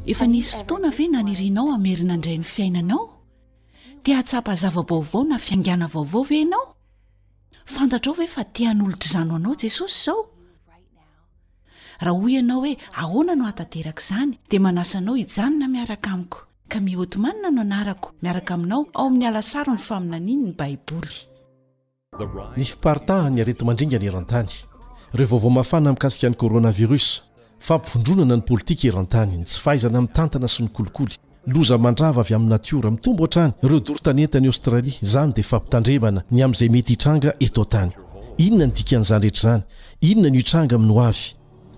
Efa nisy fotoana ve nanirianao hamerina indray ny fiainanao? Te hahatsapa zava-baovao na fiangana vaovao ve ianao? Fantatrao ve fa te hanolotr'izany ho anao Jesosy izao? Raha hoy ianao hoe ahoana no hahatanteraka izany dia manasa anao hijanona miaraka amiko. Camille Othman no anarako, miaraka aminao ao amin'ny Alasaro ny faminanian'ny Baiboly. Ny fiparitahan'ny areti-mandringana eran-tany, ireo vaovao mafana mikasika ny coronavirus, fampivondronana ny politika eran-tany, ny tsy fahaizana mitantana sy ny kolikoly, loza mandrava avy amin'ny natiora, mitombo hatrany ireo doro tanety any Aostralia, izany dia fampitandremana ny amin'izay mety hitranga eto an-tany. Inona ny dikan'izany rehetra izany? Inona no hitranga amin'ny hoavy?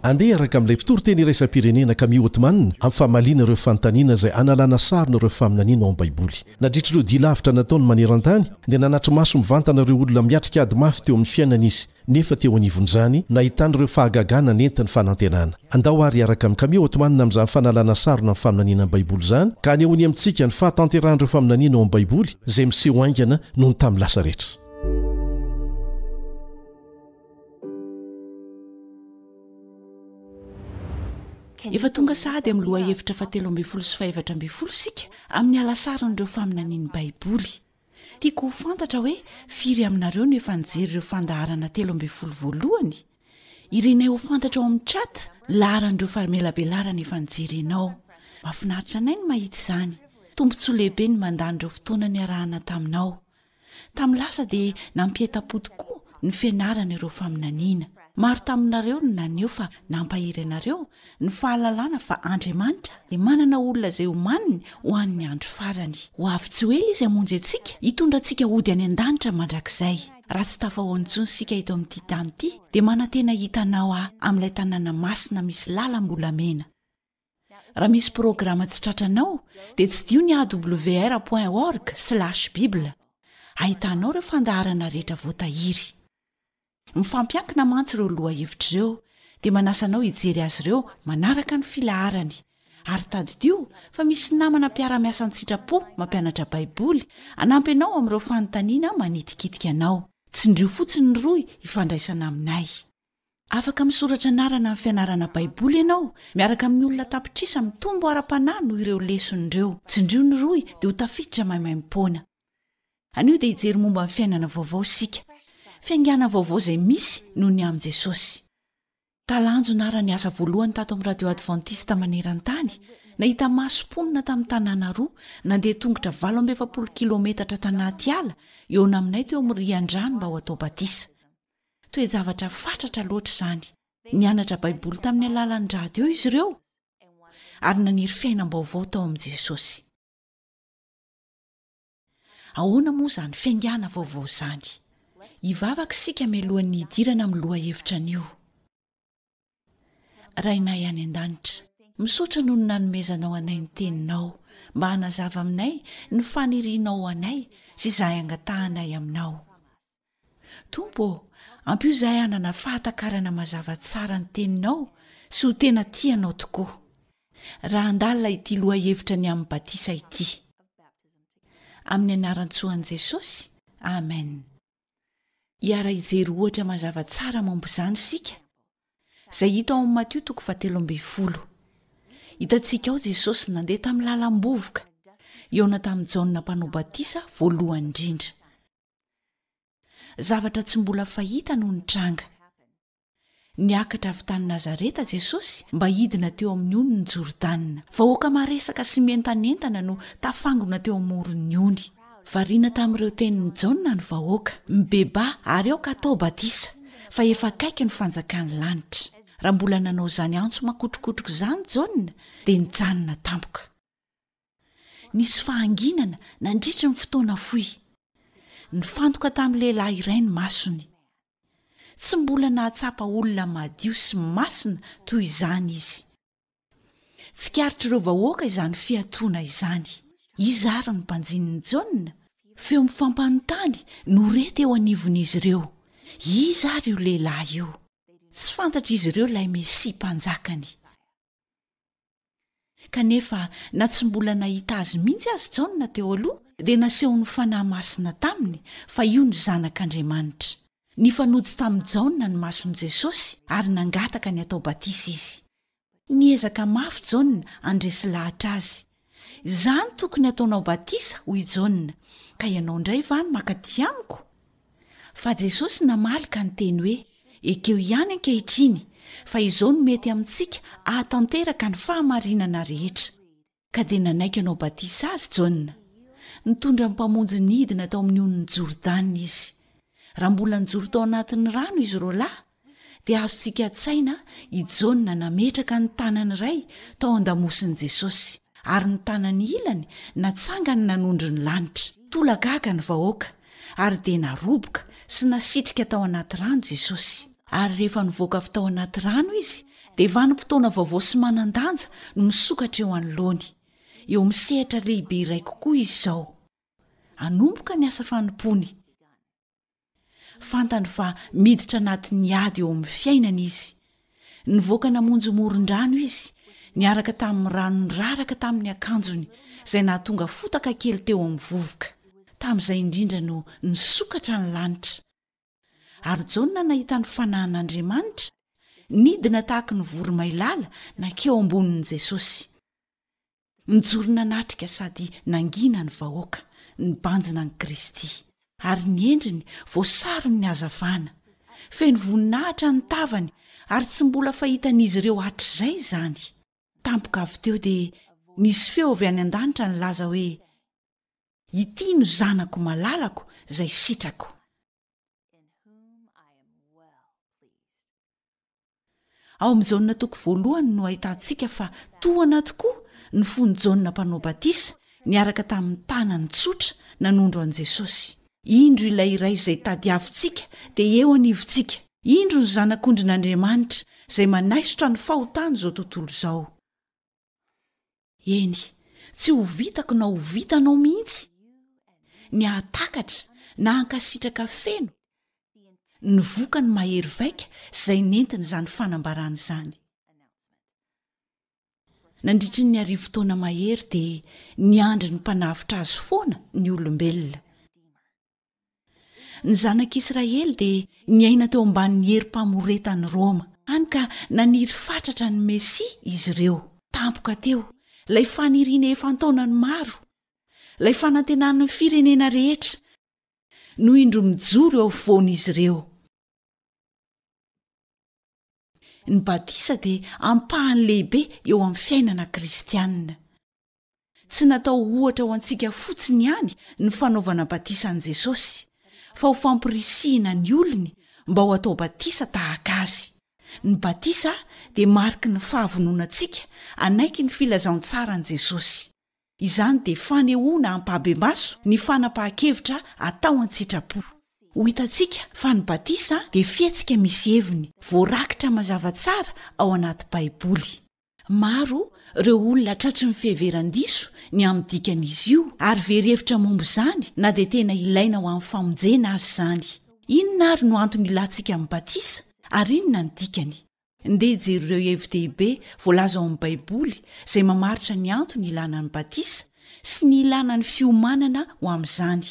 Andeha araka amin'ilay mpitoriteny iraisam-pirenena Camille Ottman amin'ny famaliana ireo fanontaniana izay hanalana sarona ireo faminaniana ao amin'ny Baiboly. Nadritra ireo dia lavitra nataony maneran-tany, dia nanatri-maso mivantana ireo olona miatrika ady mafy teo amin'ny fiainany izy, nefa teo anivon'izany, nahitany ireo fahagagana nentiny fanantenana. Andao àry hiaraka amin'i Camille Ottman amin'izany fanalana sarona ny faminaniana amin'ny Baiboly izany, ka hanehoany amintsika ny fahatanterahan'ireo faminaniana ao amin'ny Baiboly izay miseho haingana noho ny tamin'ny lasa rehetra. Efa tonga sahady amin'ny lohahevitra fahatelo ambin'ny folo sy fahefatra ambin'ny folo isika amin'ny halasaron'ireo faminanian'ny Baiboly. Tiako ho fantatra hoe firy aminareo no efa nijery ireo fandaharana telo ambin'ny folo voalohany? Irinay ho fantatra ao amin'ny chat laharan'ireo famelabelarana efa nijerenao. Mahafinaritra anay ny mahita izany. Tombontsoa lehibe ny mandany ireo fotoana niarahana taminao. Tamin'ny lasa dia nampientam-po tokoa ny fianarana ireo faminaniana. Maro taminareo no naneho fa nampahery anareo ny fahalalana fa Andriamanitra dia manana olona izay omaniny ho an'ny andro farany. Ho avy tsy ho ela Izy hamonjy antsika, hitondra antsika hody any an-danitra mandrakizay. Raha tsy tafahaona intsony isika eto amin'ity tany ity, dia manantena hita Anao aho amin'ilay tanàna masina misy lalam-bolamena. Raha misy programa tsy tratranao, dia tsidio ny awr point org slash bible. Ahitanao ireo fandaharana rehetra voatahiry. Mifampiankina mantsy ireo lohahevitra ireo, dia manasa anao hijery azy ireo manaraka ny filaharany. Ary tadidio fa misy namana mpiara-miasa an-tsitrapo mampianatra Baiboly hanampy anao amin'ireo fanontaniana manitikitika anao. Tsindrio fotsiny ny rohy hifandraisana aminay. Afaka misoratra anarana amin'ny fianarana Baiboly ianao miaraka amin'ny olona tapitrisa mitombo ara-panahy noho ireo lesona ireo. Tsindrio ny rohy dia ho tafiditra maimaimpoana. Anio dia hijery momba ny fiainana vaovao isika. Fiaingàna vaovao izay misy noho ny amin'i Jesosy. Talanjona ara ny asa voalohany tato amin'ny Radio Advantista maneran-tany, nahita maso mponina tamin'ny tanàna roa, nandeha tongotra valo amby efapolo kilometatra tanaty ala eo naminay teo amin'ny rian-drano mba ho atao batisa. Toe-javatra fatratra loatra izany! Nianatra Baiboly tamin'ny alalan'ny radio izy ireo, ary naniry fiainam-baovao tao amin'i Jesosy. Ahoana moa izany fiaingàna vaovao izany? Hivavaka isika mialohan'ny hidirana amin'ny lohahevitra anio. Rainay any an-danitra. Misaotra noho ny nanomezanao anay ny Teninao mba hanazava aminay ny fanirianao ho anay sy izay hangatahanay Aminao. Tompo ô, ampio izahay hanana fahatakarana mazava tsara ny Teninao sy ho tena tia Anao tokoa, raha handalina ity lohahevitra ny amin'ny batisa ity. Amin'ny anaran-tsoan'i Jesosy, amena. Hiara-hijery ohatra mazava tsara momba izany isika, izay hita ao amin'ny Matio toko fahatelo ambin'ny folo. Hitantsika ao Jesosy nandeha tamin'ny lalam-bovoka, hihaona tamin'i Jaona Mpanao Batisa voalohany indrindra. Zavatra tsy mbola fahita no nitranga. Niakatra avy tany Nazareta Jesosy mba hidina teo amin'ny onin'i Jordana. Vahoaka maresaka sy mientanentana no tafangona teo amoron'ny ony. Variana tamin'ireo tenin'i Jaona ny vahoaka, Mibebaha ary aoka atao batisa, fa efa akaiky ny fanjakan'ny lanitra. Raha mbola nanao izany antso makotrokotroka izany Jaona, dia nijanona tampoka. Nisy fahanginana nandritry ny fotoana fohy. Nifantoka tamin'ny lehilahy iray ny masony. Tsy mbola nahatsapa olona madio sy masina toy izany izy. Tsikaritr'ireo vahoaka izany fiatoana izany. Iza àry ny mpanjinin'i Jaona? Feo mifampanontany no re teo anivon'izy ireo. Iza àry io lehilahy io? Tsy fantatr'izy ireo ilay Mesia Mpanjakany. Kanefa, na tsy mbola nahita azy mihitsy aza Jaona teo aloha, dia nasehon'ny fanahy masina taminy fa io ny Zanak'Andriamanitra. Nifanojo tamin'i Jaona ny mason'i Jesosy, ary nangataka ny hatao batisa izy. Niezaka mafy Jaona handresy lahatra azy, Izany tokony hataonao batisa, hoy i Jaona, ka ianao indray va no maka aty amiko? Fa Jesosy namaly ka niteny hoe, Ekeo ihany ankehitriny, fa izao no mety amintsika hahatanteraka ny fahamarinana rehetra. Ka dia nanaiky hanao batisa azy Jaona. Nitondra ny Mpamonjy nidina tao amin'ny onin'i Jordana izy. Raha mbola nijoro tao anatin'ny rano izy roalahy, dia azontsika an-tsaina i Jaona nametraka ny tanany iray tao an-damosin'i Jesosy, ary ny tanany ilany natsangany nanondro ny lanitra. Tolagaga ny vahoaka, ary dia naroboka sy nasitrika tao anaty rano Jesosy. Ary rehefa nivoaka avy tao anaty rano izy, dia vanim-potoana vaovao sy manan-danja no misokatra eo anoloany. Eo amin'ny sehatra lehibe iray kokoa izy izao. Hanomboka ny asa fanompoany. Fantany fa miditra anatin'ny ady eo amin'ny fiainany izy. Nivoaka namonjy moron-drano izy, niaraka tamin'ny rano niraraka tamin'ny akanjony, izay nahatonga fotaka kely teo amin'ny vovoka. Tamin'izay indrindra no nisokatra ny lanitra. Ary Jaona nahita ny fanahin'Andriamanitra, nidina tahaka ny voromailala nankeo ambonin'i Jesosy. Nijoro nanatrika sady nangina ny vahoaka, nibanjina an'i Kristy. Ary ny endriny, voasaron'ny hazavana. Feno voninahitra ny tavany, ary tsy mbola fahitan'izy ireo hatrizay izany. Tampoka avy teo dia nisy feo avy any an-danitra nilaza hoe, Ity no Zanako malalako, izay sitrako. in whom I am well pleased. Ao amin'i Jaona toko voalohany no ahitantsika fa tohana tokoa ny fon'i Jaona mpanao batisa niaraka tamin'ny tanany tsotra nanondro an'i Jesosy. Indro ilay iray izay tadiavintsika dia eo anivontsika. Indro ny Zanak'ondrin'Andriamanitra izay manaisotra ny fahotan'izao tontolo izao. Eny, tsy ho vitako na ho vitanao mihitsy ny hahatakatra na hankasitraka feno ny vokany mahery vaika izay nentin'izany fanambarana izany. Nandritry ny arivo taona mahery dia niandry ny Mpanavotra Azy foana ny olombelona. Ny Zanak'Israely dia niaina teo ambanin'ny herim-pamoretan'i Roma, hany ka naniry fatratra ny Mesia izy ireo. Tampoka teo, ilay faniriana efa an-taonany maro, ilay fanantenan'ny firenena rehetra, no indro mijoro eo afovoan'izy ireo. Ny batisa dia ampahany lehibe eo amin'ny fiainana kristianina. Tsy natao ho ohatra ho antsika fotsiny ihany ny fanaovana batisa an'i Jesosy, fa ho fampirisihina ny olony mba ho atao batisa tahaka Azy. Ny batisa dia mariky ny fahavononantsika hanaiky ny filazantsaran'i Jesosy. Izany dia fanehoana ampahibemaso ny fanapahan-kevitra atao an-tsitrapo. Ho hitantsika fa ny batisa dia fihetsika misy heviny, voarakitra mazava tsara ao anaty Baiboly. Maro ireo olona tratry ny fiheveran-diso ny amin'ny dikan'izy io, ary very hevitra momba izany na dia tena ilaina ho amin'ny famonjena aza izany. Inona àry no antony ilàntsika amin'ny batisa, ary inona ny dikany? Ndeha jero ireo hevi-dehibe voalaza ao amin'ny Baiboly izay mamaritra ny antony ilàna ny batisa sy ny ilàna ny fiomanana ho amin'izany.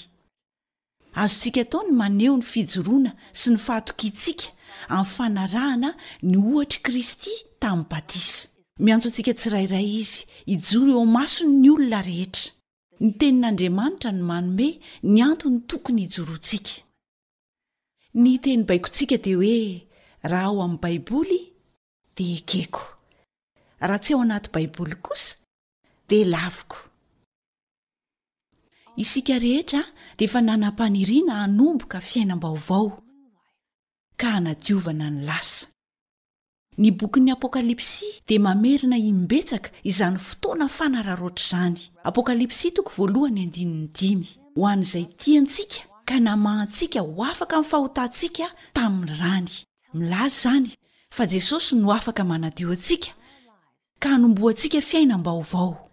Azontsika atao ny maneho ny fijoroana sy ny fahatokiantsika amin'ny fanarahana ny ohatr'i Kristy tamin'ny batisa. Miantso antsika tsirairay Izy hijoro eo imasony ny olona rehetra. Ny Tenin'Andriamanitra no manome ny antony tokony hijoroantsika. Ny teny baikontsika dia hoe, Raha ao amin'ny Baiboly, dia ekeko. Raha tsy ao anaty Baiboly kosa, dia laviko isika rehetra dia efa nanam-paniriana hanomboka fiainam-baovao ka hanadiovana ny lasa ny bokin'ny apokalypsy dia mamerina imbetsaka izany fotoana fanararoatra izany apokalypsy toko voalohany andinin'ny dimy ho an'izay tiantsika ka namahantsika ho afaka ny fahotantsika tamin'ny rany milaza izany fa jesosy no afaka manadio antsika ka hanombohantsika fiainam-baovao.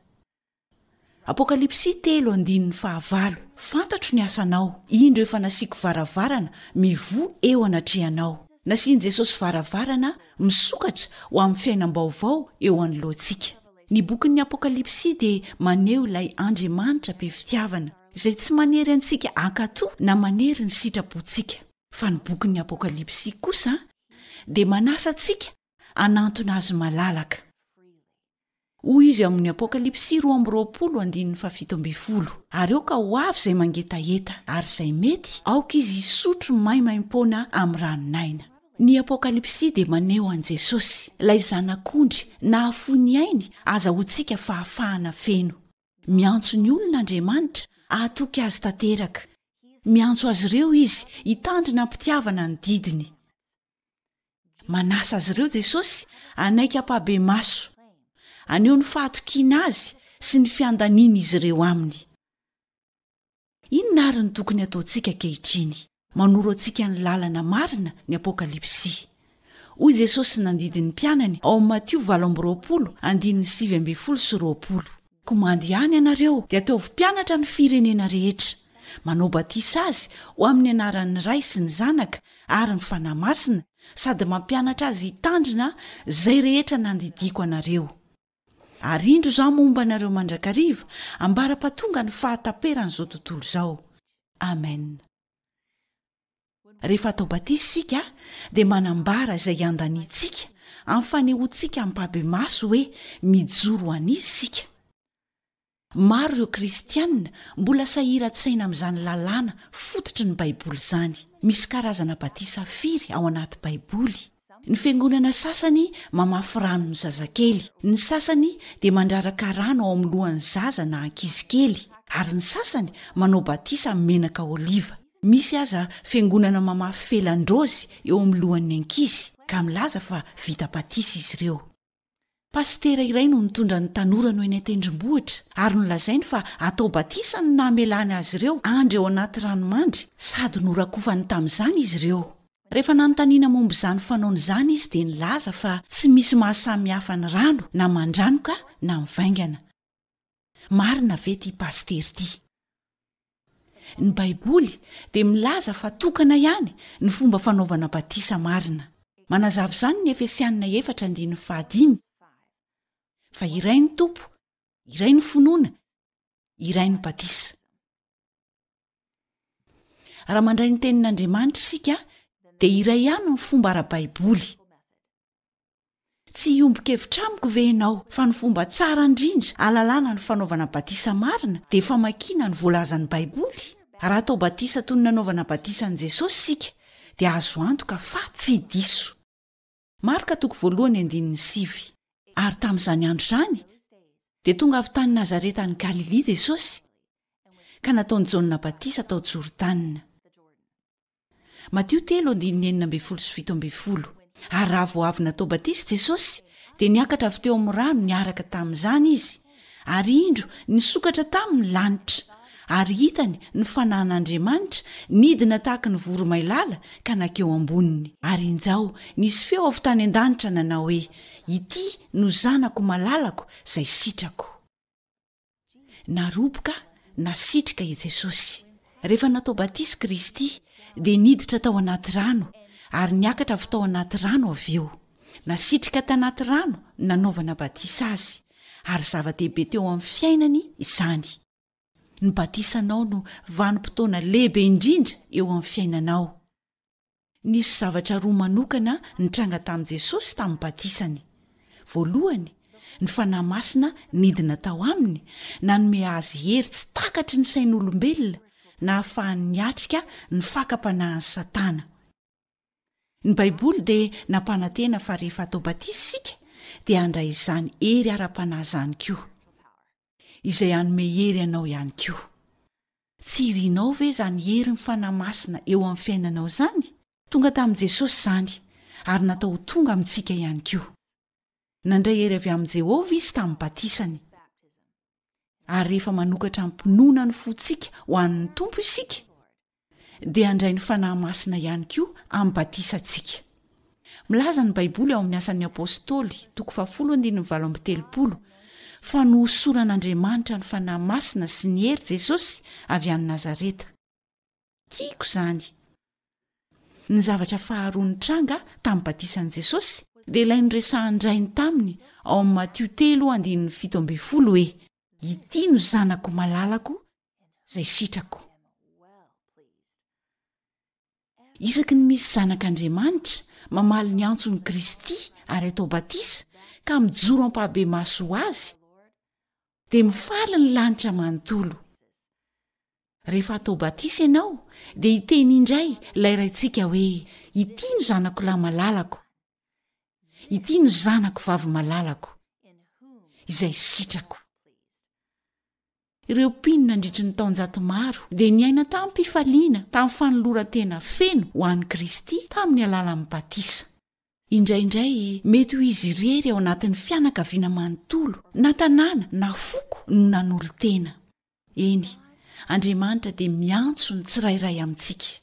Apokalypsy telo andininy fahavalo Fantatro ny asanao, indro efa nasiako varavarana mivoha eo anatrehanao. Nasian'i Jesosy varavarana misokatra ho amin'ny fiainam-baovao eo anoloantsika. Ny bokin'ny Apokalypsy dia maneho ilay Andriamanitra be fitiavana, izay tsy manery antsika hankatò na manery ny sitrapontsika. Fa ny bokin'ny Apokalypsy kosa dia manasa antsika hanantona azy malalaka. Hoy izy ao amin'ny Apokalypsy roa amby roapolo andininy fahafito ambin'ny folo, Ary aoka ho avy izay mangetaheta, ary izay mety, aoka izy hisotro maimaim-poana amin'ny ranon'aina. Ny Apokalypsy dia maneho an'i Jesosy, ilay Zanak'ondry nahafoy ny ainy azahoantsika fahafahana feno. Miantso ny olona Andriamanitra hahatoky azy tanteraka. Miantso azy ireo izy hitandrina am-pitiavana ny didiny. Manasa azy ireo Jesosy hanaiky hampabemaso, haneho ny fahatokiana azy sy ny fiandaniana izy ireo aminy. Inona àry no tokony hataontsika ankehitriny? Manoro antsika ny lalana marina ny Apokalypsy. Hoy Jesosy nandidy ny mpianany ao amin'ny Matio valo amby roapolo, andininy sivy ambin'ny folo sy roapolo, Komandy ihany ianareo dia ataovy mpianatra ny firenena rehetra, manao batisa azy ho amin'ny anaran'ny Ray sy ny Zanaka ary ny Fanahy Masina sady mampianatra azy hitandrina izay rehetra nandidiako anareo. Ary indro izaho momba anareo mandrakariva ambara-pahatonga ny fahataperan'izao tontolo izao. Amena. Rehefa atao batisa isika dia manambara izay iandaniantsika amin'ny fanehoantsika ampahibemaso hoe mijoro ho an'Izy isika. Maro ireo kristiana mbola sahiran-tsaina amin'izany lalàna fototry ny Baiboly izany. Misy karazana batisa firy ao anaty Baiboly? Ny fiangonana sasany mamafy rano ny zazakely, ny sasany dia mandraraka rano ao amin'ny lohan'ny zaza na ankizy kely, ary ny sasany manao batisa amin'ny menaka oliva. Misy aza fiangonana mamafy felan-draozy eo amin'ny lohan'ny ankizy, ka milaza fa vita batisa izy ireo. Pasitera iray no nitondra ny tanora no eny an-tendrombohitra ary nolazainy fa atao batisa no namelany azy ireo andry ao anaty ranomandry sady norakofany tamin'izany izy ireo. Rehefa nanontaniana momba izany fanaony izany izy dia nilaza fa tsy misy mahasamihafa ny rano na mandranoka na mivaingana. Marina ve ity pasitera ity? Ny baiboly dia milaza fa tokana ihany ny fomba fanaovana batisa marina. Manazava izany ny Efesianina efatra andininy fahadimy, Fa iray ny Tompo, iray ny finoana, iray ny batisa. Raha mandray ny tenin'Andriamanitra isika dia iray ihany ny fomba ara-baiboly. Tsy hiombon-kevitra amiko ve ianao fa ny fomba tsara indrindra hahalalana ny fanaovana batisa marina dia famakiana ny voalazan'ny Baiboly? Raha atao batisa toy ny nanaovana batisa an'i Jesosy isika, dia azo antoka fa tsy diso. Marka toko voalohany andininy sivy. Ary tamin'izany andro izany, dia tonga avy tany Nazareta any Galilia Jesosy, ka nataon'i Jaona batisa tao Jordana. Matio telo andininy enina ambin'ny folo sy fito ambin'ny folo Ary raha vao avy natao batisa Jesosy, dia niakatra avy teo amin'ny rano niaraka tamin'izany Izy, ary indro nisokatra taminy ny lanitra, ary hitany ny Fanahin'Andriamanitra nidina tahaka ny voromailala ka nakeo amboniny. Ary injao, nisy feo avy tany an-danitra nanao hoe, Ity no Zanako malalako izay sitrako. Naroboka, nasitrika, i Jesosy. Rehefa natao batisa i Kristy, dia niditra tao anaty rano, ary niakatra avy tao anaty rano avy eo. Nasitrika tanaty rano nanaovana batisa Azy, ary zava-dehibe teo amin'ny fiainany izany. Ny batisanao no vanim-potoana lehibe indrindra eo amin'ny fiainanao. Nisy zavatra roa manokana nitranga tamin'i Jesosy tamin'ny Batisany. Voalohany, ny Fanahy Masina nidina tao Aminy, nanome Azy hery tsy takatry ny sain'olombelona, nahafahany niatrika ny fakam-panahin'i Satana. Ny Baiboly dia nampanantena fa rehefa atao batisa isika, dia handray izany hery ara-panahy izany koa. izay hanome hery anao ihany koa. Tsy irinao ve izany herin'ny Fanahy Masina eo amin'ny fiainanao izany? Tonga tamin'i Jesosy izany, ary natao ho tonga amintsika ihany koa. Nandray hery avy amin'i Jehovah izy tamin'ny batisany. Ary rehefa manokatra amim-pinoana ny fontsika ho an'ny Tompo isika, dia handray ny Fanahy Masina ihany koa amin'ny batisantsika. Milaza ny Baiboly ao amin'ny Asan'ny Apostoly, toko fahafolo andininy valo amby telopolo, fa nohosoran'Andriamanitra ny Fanahy Masina sy ny hery Jesosy avy any Nazareta. Tiako izany! Ny zavatra faharoa nitranga tamin'ny batisan'i Jesosy dia ilay noresahan-dRainy taminy ao amin'ny Matio telo andininy fito ambin'ny folo hoe, Ity no zanako malalako izay sitrako. Isaky ny misy zanak'Andriamanitra mamaly ny antson'i Kristy ary atao batisa ka mijoro am-pahabe-maso ho Azy, dia mifaly ny lanitra manontolo. Rehefa atao batisa ianao, dia hiteny indray ilay Raintsika hoe, Ity no Zanakolahy malalako, Ity no zanako vavy malalako, izay sitrako. Ireo mpino nandritry ny taonjato maro dia niaina tamim-pifaliana tamin'ny fanoloran-tena feno ho an'i Kristy tamin'ny alalan'ny batisa. Indraindray, mety ho izy irery ao anatin'ny fianakaviana manontolo, na tanàna, na foko no nanolo-tena. Eny, Andriamanitra dia miantso ny tsirairay amintsika.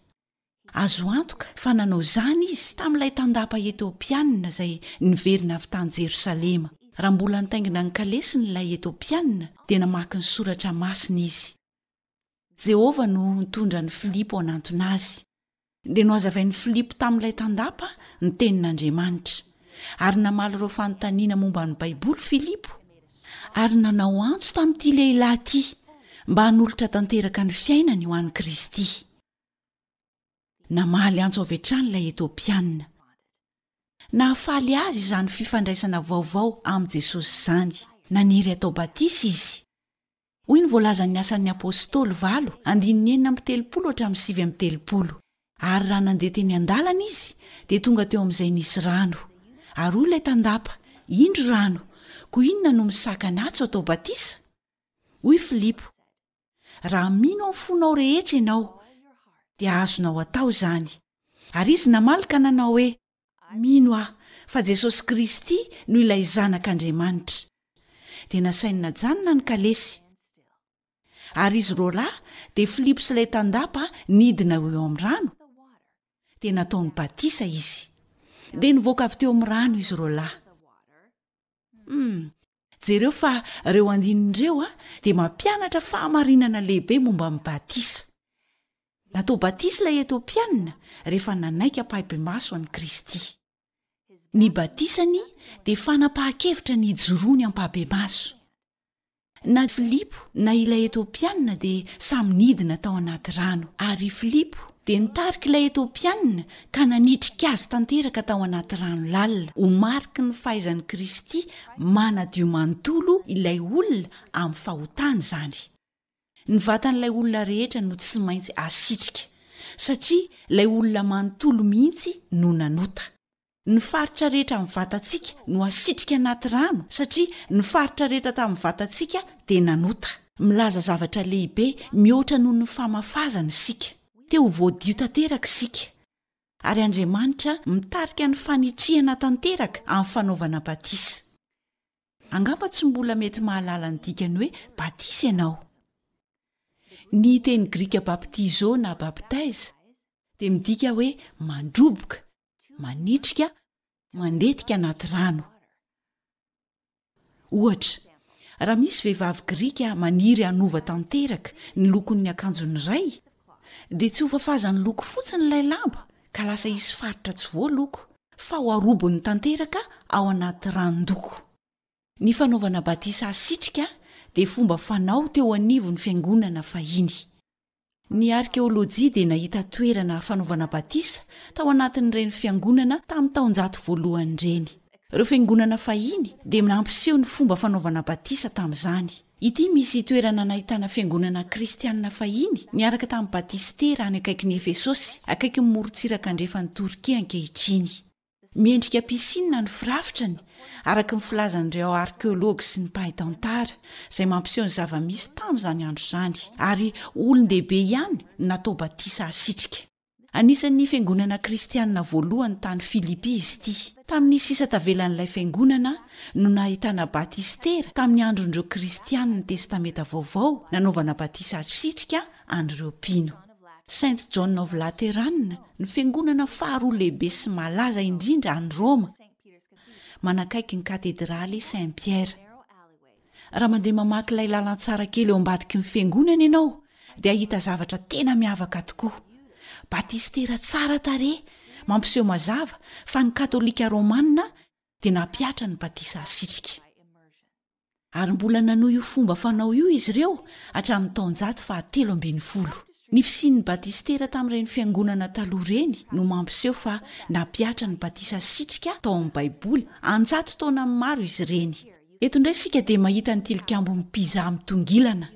Azo antoka fa nanao izany izy tamin'ilay tandapa Etiopianina izay niverina avy tany Jerosalema. Raha mbola nitaingina ny kalesiny ilay Etiopianina, dia namaky ny Soratra Masina izy. Jehovah no nitondra an'i Filipo hanantona azy. dia nohazavain'i Filipo tamin'ilay tandapa ny Tenin'Andriamanitra. Ary namaly ireo fanontaniana momba ny Baiboly Filipo, ary nanao antso tamin'ity lehilahy ity mba hanolotra tanteraka ny fiainany ho an'i Kristy. Namaly antso avy hatrany ilay Etiopiana. Nahafaly azy izany fifandraisana vaovao amin'i Jesosy izany. Naniry hatao batisa izy. hoy ny voalazan'ny Asan'ny Apôstôly valo, andininy enina amby telopolo hatramin'ny sivy amby telopolo, Ary raha nandeha teny an-dalana izy, dia tonga teo amin'izay nisy rano. Ary hoy ilay tandapa, Indro rano, koa inona no misakana atsy ho atao batisa? Hoy Filipo, Raha mino amin'ny fonao rehetra ianao, dia azonao atao izany. Ary izy namaly ka nanao hoe, Mino aho fa Jesosy Kristy no ilay Zanak' Andriamanitra. Dia nasainy najanona ny kalesy. Ary izy roalahy dia Filipo sy ilay tandapa nidina ho eo amin'ny rano, dia nataony batisa izy. Dia nivoaka avy teo amin'ny rano izy roalahy. Humm. Jereo fa ireo andininy ireo dia mampianatra fahamarinana lehibe momba ny batisa. Natao batisa ilay Etiopiana rehefa nanaiky ampahibemaso an'i Kristy. Ny batisany dia fanapahan-kevitra ny hijoroany ampahibemaso. Na Filipo na ilay Etiopiana dia samy nidina tao anaty rano, ary Filipo dia nitarika ilay Etiopiana ka nanitrika azy tanteraka tao anaty rano lalina ho mariky ny fahaizan'i Kristy manadio manontolo ilay olona amin'ny fahotany izany. Ny vatan'ilay olona rehetra no tsy maintsy asitrika, satria ilay olona manontolo mihitsy no nanota. Ny faritra rehetra amin'ny vatantsika no asitrika anaty rano, satria ny faritra rehetra tamin'ny vatantsika dia nanota. Milaza zavatra lehibe mihoatra noho ny famafazana isika. Te ho voadio tanteraka isika, ary Andriamanitra mitarika ny fanitrihana tanteraka amin'ny fanaovana batisa. Angamba tsy mbola mety mahalala ny dikan'ny hoe batisa ianao. Ny teny grika baptizo na bapteize dia midika hoe mandroboka, manitrika mandetika anaty rano ohatra raha misy vehivavy grika maniry hanova tanteraka ny lokon'ny akanjony iray dia tsy hofafazan'ny loko fotsiny ilay lamba ka lasa hisy faritra tsy voa loko fa ho arobon'ny tanteraka ao anaty ranondoko ny fanaovana batisa asitrika dia fomba fanao teo anivon'ny fiangonana fahiny Ny arkeolojia dia nahita toerana fanaovana batisa tao anatin'ireny fiangonana tamin'ny taonjato voalohany ireny. Ireo fiangonana fahiny dia nampiseho ny fomba fanaovana batisa tamin'izany. Ity misy toerana nahitana fiangonana kristianina fahiny niaraka tamin'ny batistera any akaikin'i Efesosy, akaikin'ny morontsiraka andrefan'i Torkia ankehitriny. Miendrika piscine ny firafitrany, araka ny filazan'ireo arkeology sy ny mpahay tantara, izay mampiseho ny zava-misy tamin'izany andro izany, ary olon-dehibe ihany no natao batisa hasitrika. Anisan'ny fiangonana kristianina voalohany tany Filipy izy ity. Tamin'ny sisa tavelan'ilay fiangonana no nahitana batistera tamin'ny andron'ireo Kristianin'ny Testamenta Vaovao nanaovana batisa hasitrika an'ireo mpino. Saint John of Lateran, ny fiangonana faharoa lehibe sy malaza indrindra any Roma, manakaiky ny katedraly Saint Pierre. Raha mandeha mamaky ilay lalantsara kely eo ambadiky ny fiangonana ianao, dia hahita zavatra tena miavaka tokoa. Batistera tsara tarehy, mampiseho mazava fa ny Katolika Romana dia nampihatra ny batisa asitrika. ary mbola nanohy io fomba fanao io izy ireo hatramin'ny taonjato fahatelo ambin'ny folo. Ny fisian'ny batistera tamin'ireny fiangonana taloha ireny no mampiseho fa nampihatra ny batisa sitrika tao amin'ny Baiboly an-jato taona maro izy ireny. Eto indray isika dia mahita ny tilikambo mpizaha mitongilana.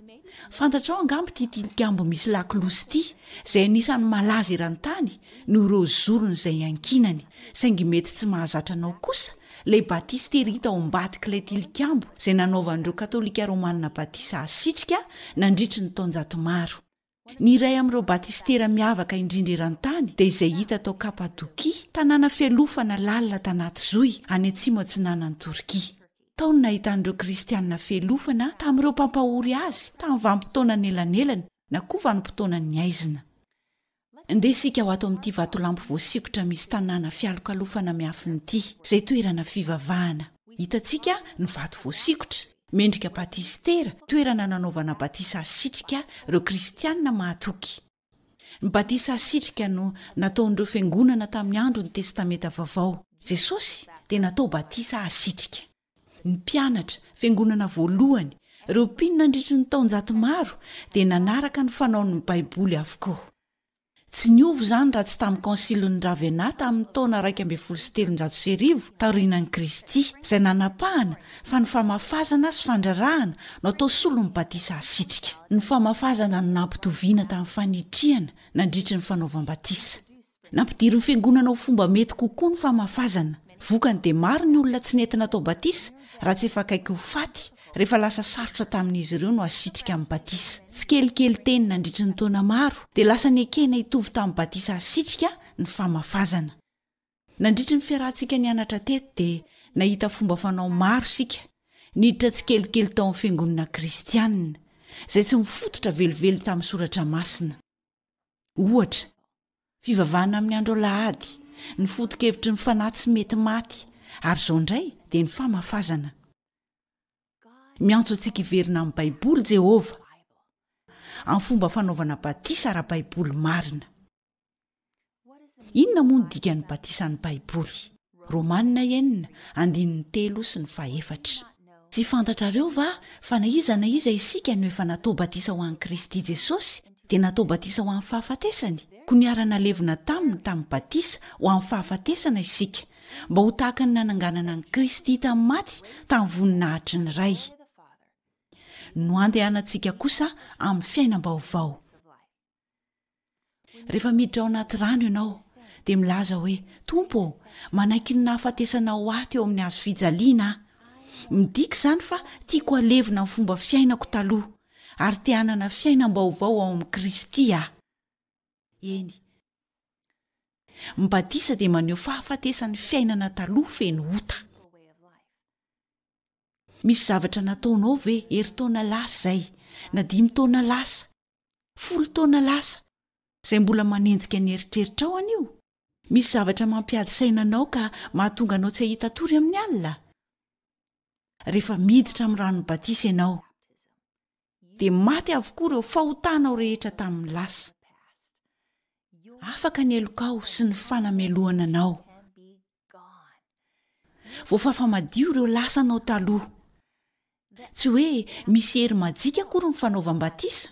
Fantatrao angamba ity tilikambo misy lakolosy ity, izay anisan'ny malaza eran-tany noho ireo zorony izay iankinany, saingy mety tsy mahazatra anao kosa Ilay batistery hita ao ambadik'ilay tilikambo izay nanaovan'ireo Katolika Romanina batisa hasitrika nandritry ny taonjato maro. Ny iray amin'ireo batistera miavaka indrindra eran-tany dia izay hita tao Kapadokia, tanàna fialofana lalina tanaty zohy any atsimo atsinanan'i Torkia. Tao no nahitan'ireo Kristianina fialofana tamin'ireo mpampahory azy tamin'ny vanim-potoana anelanelany na koa vanim-potoanan'ny haizina. Ndeha isika ho ato amin'ity vatolampy voasikotra misy tanàna fialokalofana miafina ity, izay toerana fivavahana. Hitantsika ny vato voasikotra, mendrika batisitera, toerana nanaovana batisa hasitrika ireo kristiana mahatoky. Ny batisa hasitrika no nataon'ireo fiangonana tamin'ny andron'ny Testamenta Vaovao. Jesosy dia natao batisa hasitrika. Ny mpianatra, fiangonana voalohany, ireo mpino nandritry ny taonjato maro dia nanaraka ny fanaon'ny Baiboly avokoa. Tsy niova izany raha tsy tamin'ny Kônsilin'i Ravenna tamin'ny taona iraika ambin'ny folo sy telonjato sy arivo taorianan'i Kristy, izay nanapahana fa ny famafazana sy fandrarahana no atao solon'ny batisa asitrika. Ny famafazana no nampitoviana tamin'ny fanitrihana nandritry ny fanaovam-batisa. Nampidirin'ny Fiangonana ho fomba mety kokoa ny famafazana. Vokany dia maro ny olona tsy nety natao batisa raha tsy efa akaiky ho faty rehefa lasa sarotra tamin'izy ireo no hasitrika amin'ny batisa. Tsikelikely teny nandritry ny taona maro dia lasa nekena hitovy tamin'ny batisa hasitrika ny famafazana. Nandritry ny fiarahantsika nianatra teto dia nahita fomba fanao maro isika niditra tsikelikely tao amin'ny Fiangonana Kristianina izay tsy mifototra velively tamin'ny Soratra Masina. Ohatra, fivavahana amin'ny andro alahady, ny foto-kevitry ny fanahy tsy mety maty, ary izao indray dia ny famafazana. Miantso antsika hiverina amin'ny Baiboly Jehovah, amin'ny fomba fanaovana batisa ara-baiboly marina. Inona moa ny dikan'ny batisan'ny Baiboly? Romanina enina, andininy telo sy ny fahefatra. Tsy fantatrareo va fa na iza na iza isika no efa natao batisa ho an'i Kristy Jesosy dia natao batisa ho amin'ny fahafatesany? Koa niara-nalevina taminy tamin'ny batisa ho amin'ny fahafatesana isika, mba ho tahaka ny nananganana an'i Kristy tamin'ny maty tamin'ny voninahitry ny Ray, no andehanantsika kosa amin'ny fiainam-baovao. Rehefa miditra ao anaty rano ianao, dia milaza hoe, Tompo ô, manaiky ny nahafatesana ho ahy teo amin'ny hazo fijaliana aho. Midika izany fa tiako halevina ny fomba fiainako taloha, ary te hanana fiainam-baovao ao amin'i Kristy aho. Eny, ny batisa dia maneho fahafatesan'ny fiainana taloha feno ota. Misy zavatra nataonao ve, herintaona lasa izay, na dimy taona lasa, Folo taona lasa, izay mbola manenjika ny eritreritrao anio? Misy zavatra mampiady saina anao ka mahatonga anao tsy hahita tory amin'ny alina? Rehefa miditra amin'ny ranon'ny batisa ianao, dia maty avokoa ireo fahotanao rehetra tamin'ny lasa. Afaka ny helokao sy ny fanamelohana anao. Voafafa madio ireo lasa anao taloha. Tsy hoe misy hery majika akory ny fanaovam-batisa.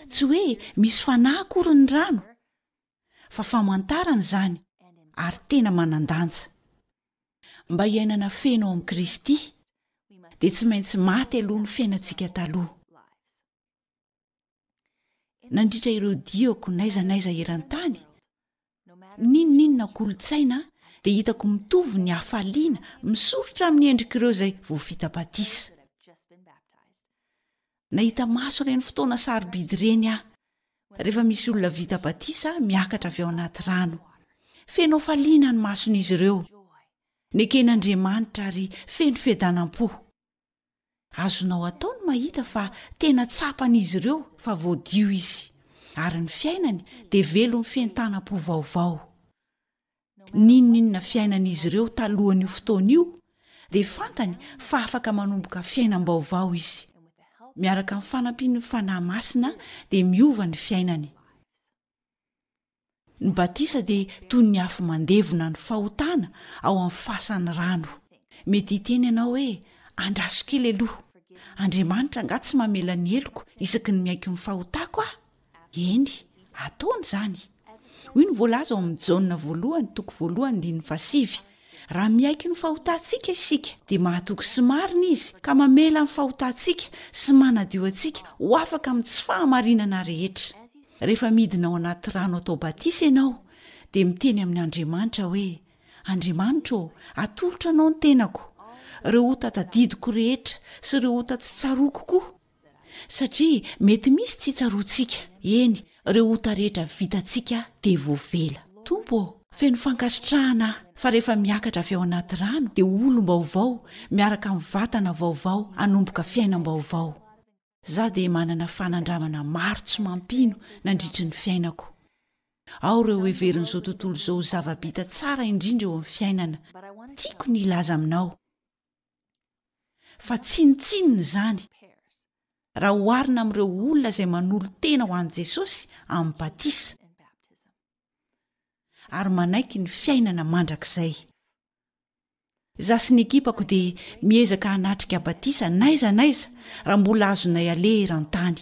Tsy hoe misy fanahy akory ny rano. Fa famantarana izany, ary tena manan-danja. Mba hiainana feno ao amin'i Kristy, dia tsy maintsy maty aloha ny fiainantsika taloha. nandritra ireo diako naiza naiza eran-tany ninoninona kolontsaina dia hitako mitovy ny hafaliana misoritra amin'ny endrik' ireo izay voafitabatisa nahita maso ireny fotoana sarobidy ireny aho rehefa misy olona vita batisa miakatra avy ao anaty rano feno hafaliana ny mason'izy ireo neken'andriamanitra ary feno fiadanam-po Azonao atao ny mahita fa tena tsapan'izy ireo fa voadio izy, ary ny fiainany dia velon'ny fientanam-po vaovao. N'inon'inona fiainan'izy ireo talohan'io fotoana io, dia fantany fa afaka manomboka fiainam-baovao izy. Miaraka amin'ny fanampian'ny fanahy masina, dia miova ny fiainany. Ny batisa dia toy ny afo mandevona ny fahotana ao amin'ny fasan'ny rano. Mety hiteny ianao hoe, Andraso kely aloha. Andriamanitra angaha tsy mamela ny heloko isaky ny miaiky ny fahotako aho? Eny, ataony izany. Hoy ny voalaza ao amin'ny Jaona voalohany toko voalohany andininy fahasivy, Raha miaiky ny fahotantsika isika, dia mahatoky sy marina izy ka mamela ny fahotantsika sy manadio antsika ho afaka amin'ny tsy fahamarinana rehetra. Rehefa midina ao anaty rano atao batisa ianao, dia miteny amin' Andriamanitra hoe, Andriamanitra ô, atolotra anao ny tenako, ireo ota tadidiko rehetra sy ireo ota tsy tsaroako koa. Satria mety misy tsy tsaroantsika, eny, ireo ota rehetra vitantsika dia voavela. Tompo ô, feno fankasitrahana aho fa rehefa miakatra avy ao anaty rano dia olom-baovao miaraka amin'ny vatana vaovao hanomboka fiainam-baovao. Izaho dia manana fanandramana maro tsy mampino nandritry ny fiainako. Ao ireo heverin'izao tontolo izao ho zava-bita tsara indrindra eo amin'ny fiainana. Tiako ny hilaza aminao. fa tsinontsinona izany raha hoharina amin'ireo olona izay manolo tena ho an'i jesosy amin'ny batisa ary manaiky ny fiainana mandrakizay za sy ny ekipako dia miezaka hanatrika batisa naiza naiza raha mbola azonay aleha eran-tany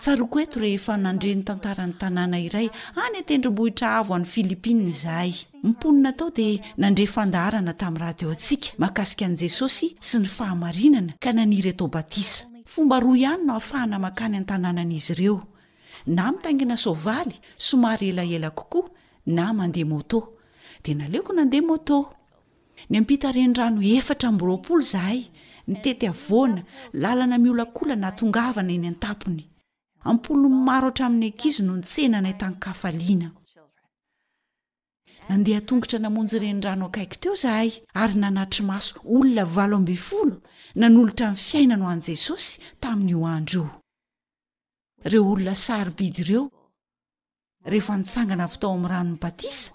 Tsaroako eto rehefa nandre ny tantaran'ny tanàna iray any an-tendrombohitra avo any Philippines izahay. Ny mponina tao dia nandre fandaharana tamin'ny radioantsika mahakasika an'i Jesosy sy ny fahamarinana, ka naniry atao batisa. Fomba roa ihany no ahafahana mankany an-tanànan'izy ireo, na mitaingina soavaly somary elaela kokoa na mandeha môtô. Dia naleoko nandeha môtô. Niampita renirano efatra amby roapolo izahay, nitety havoana, lalana miolakolana hahatongavana eny an-tampony. Am-polony maro hatramin'ny ankizy no nitsena anay tan-kafaliana. Nandeha an-tongotra namonjy renirano akaiky teo izahay, ary nanatri-maso olona valo ambin'ny folo nanolotra ny fiainany ho an'i Jesosy tamin'io andro io. Ireo olona sarobidy ireo rehefa nitsangana avy tao amin'ny ranon'ny batisa,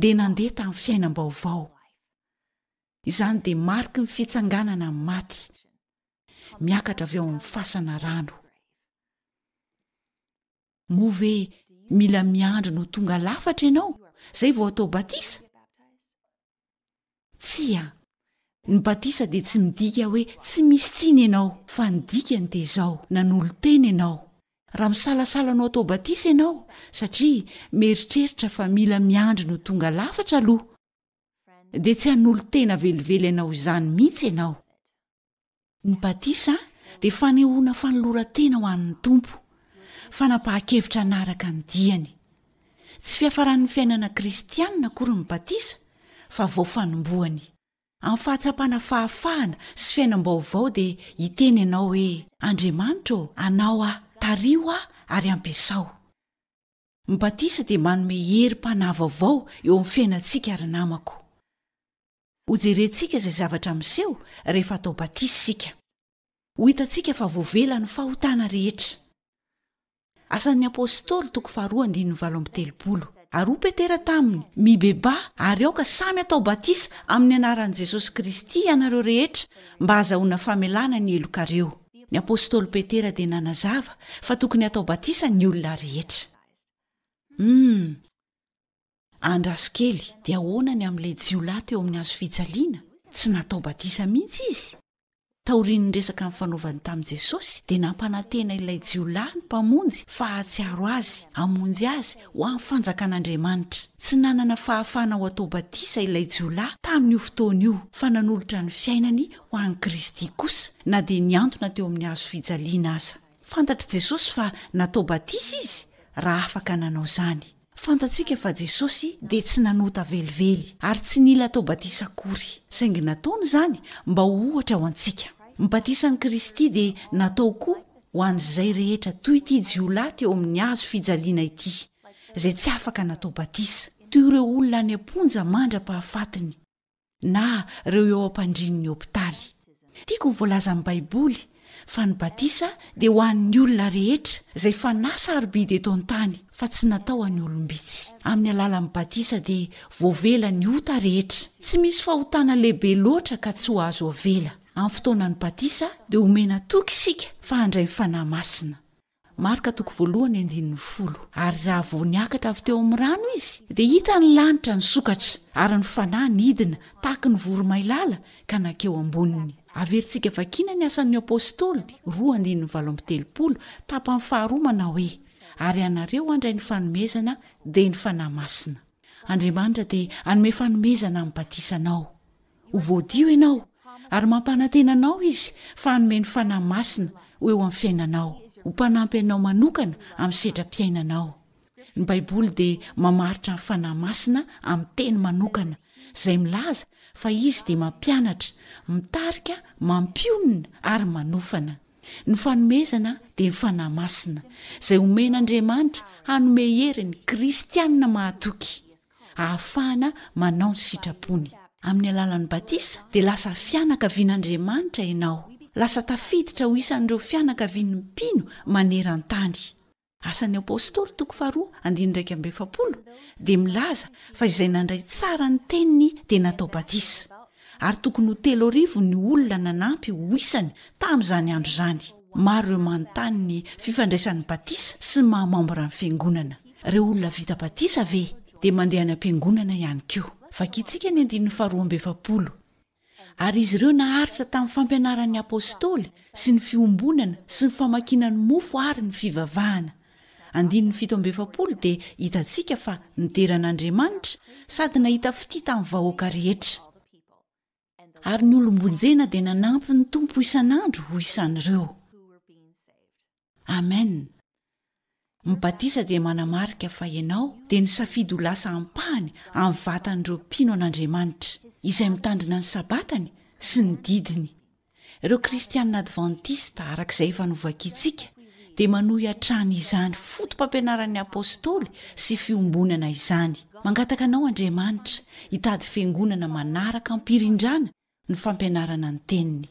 dia nandeha tamin'ny fiainam-baovao. Izany dia mariky ny fitsanganana amin'ny maty, miakatra avy ao amin'ny fasana rano. Moa ve mila miandry no tonga lafatra ianao, izay vao atao batisa? Tsia. Ny batisa dia tsy midika hoe tsy misy tsiny ianao, fa ny dikany dia izao, nanolo-tena ianao. Raha misalasala ny ho atao batisa ianao, satria mieritreritra fa mila miandry ny ho tonga lafatra aloha, dia tsy hanolo-tena velively anao izany mihitsy ianao. Ny batisa dia fanehoana fanoloran-tena ho an'ny Tompo, fanapahan-kevitra hanaraka ny diany. Tsy fiafaran'ny fiainana kristianina akory ny batisa, fa vao fanombohany. Amin'ny fahatsapana fahafahana sy fiainam-baovao dia hiteny ianao hoe, Andriamanitra ô, anao aho, tariho aho ary ampiasao. Ny batisa dia manome herim-panahy vaovao eo amin'ny fiainantsika ry namako. Hojerentsika izay zavatra miseho rehefa atao batisa isika. Ho hitantsika fa voavela ny fahotana rehetra. Asan'ny Apôstôly, toko faharoa andininy valo amby telopolo. Ary hoy Petera taminy, Mibebaha, ary aoka samy atao batisa amin'ny anaran'i Jesosy Kristy ianareo rehetra mba hahazahoana famelana ny helokareo. Ny Apôstôly Petera dia nanazava fa tokony hatao batisa ny olona rehetra. Humm. Andraso kely, dia ahoana ny amin'ilay jiolahy teo amin'ny hazo fijaliana? Tsy natao batisa mihitsy izy. Taorian'ny resaka nifanaovany tamin'i Jesosy, dia nampanantena ilay jiolahy ny Mpamonjy fa hahatsiaro azy, hamonjy azy ho amin'ny Fanjakan'Andriamanitra. Tsy nanana fahafahana ho atao batisa ilay jiolahy tamin'io fotoana io, fa nanolotra ny fiainany ho an'i Kristy kosa, na dia nihantona teo amin'ny hazo fijaliana aza. Fantatr'i Jesosy fa natao batisa izy, raha afaka nanao izany. Fantatsika fa Jesosy dia tsy nanota velively ary tsy nila atao batisa akory, saingy nataony izany mba ho ohatra ho antsika. Ny batisan'i Kristy dia natao koa ho an'izay rehetra toy ity jiolahy teo amin'ny hazo fijaliana ity, izay tsy afaka natao batisa, toy ireo olona any am-ponja mandra-pahafatiny. na ireo eo am-pandrian'ny hopitaly. Tiako ny voalazan'ny Baiboly fa ny batisa dia ho an'ny olona rehetra izay fanahy sarobidy eto an-tany fa tsy natao any olom-bitsy. Amin'ny alalan'ny batisa dia voavela ny ota rehetra. Tsy misy fahotana lehibe loatra ka tsy ho azo avela. Amin'ny fotoanan'ny batisa dia omena toky isika fa handray ny Fanahy Masina. Marka toko voalohany andininy folo. Ary raha vao niakatra avy teo amin'ny rano izy, dia hita ny lanitra nisokatra, ary ny Fanahy nidina tahaky ny voromailala ka nankeo amboniny. Averintsika vakina ny Asan'ny Apostoly, roa andininy valo amby telopolo, tapany faharoa manao hoe, Ary ianareo handray ny fanomezana, dia ny Fanahy Masina. Andriamanitra dia hanome fanomezana amin'ny batisanao. Ho voadio ianao, ary mampanantena anao Izy fa hanome ny Fanahy Masina ho eo amin'ny fiainanao, ho mpanampy anao manokana amin'ny sedram-piainanao. Ny Baiboly dia mamaritra ny Fanahy Masina amin'ny teny manokana, izay milaza fa Izy dia mampianatra, mitarika, mampionona, ary manofana. Ny fanomezana dia ny Fanahy Masina, izay omen'Andriamanitra hanome hery ny Kristianina mahatoky. hahafahana manao ny sitrapony. Amin'ny alalan'ny batisa, dia lasa fianakavian'Andriamanitra ianao. Lasa tafiditra ho isan'ireo fianakavian'ny mpino maneran-tany. Asan'ny Apostoly, toko faharoa, andininy iraika amby efapolo, dia milaza fa izay nandray tsara ny teniny dia natao batisa. Ary tokony ho telo arivo ny olona nanampy ho isany tamin'izany andro izany. Maro ireo manontany ny fifandraisan'ny batisa sy ny maha mambran'ny Fiangonana. Ireo olona vita batisa ve dia mandeha any am-piangonana ihany koa? Vakintsika ny andininy faharoa amby efapolo. Ary izy ireo naharitra tamin'ny fampianaran'ny apostoly sy ny fiombonana sy ny famakiana ny mofo ary ny fivavahana. andininy fito amby efapolo dia hitantsika fa nidera an'Andriamanitra sady nahita fitia tamin'ny vahoaka rehetra. Ary ny olom-bonjena dia nanampy ny Tompo isan'andro ho isan'ireo. Amen. Ny batisa dia manamarika fa ianao dia nisafidy ho lasa ampahany amin'ny vatan'ireo mpino an'Andriamanitra, izay mitandrina ny Sabatany sy ny didiny. Ireo Kristianina Advantista, araka izay efa novakiantsika, dia manohy hatrany izany fotopampianaran'ny Apôstôly sy fiombonana izany. Mangataka anao Andriamanitra hitady fiangonana manaraka am-pirindrana ny fampianarana ny Teniny.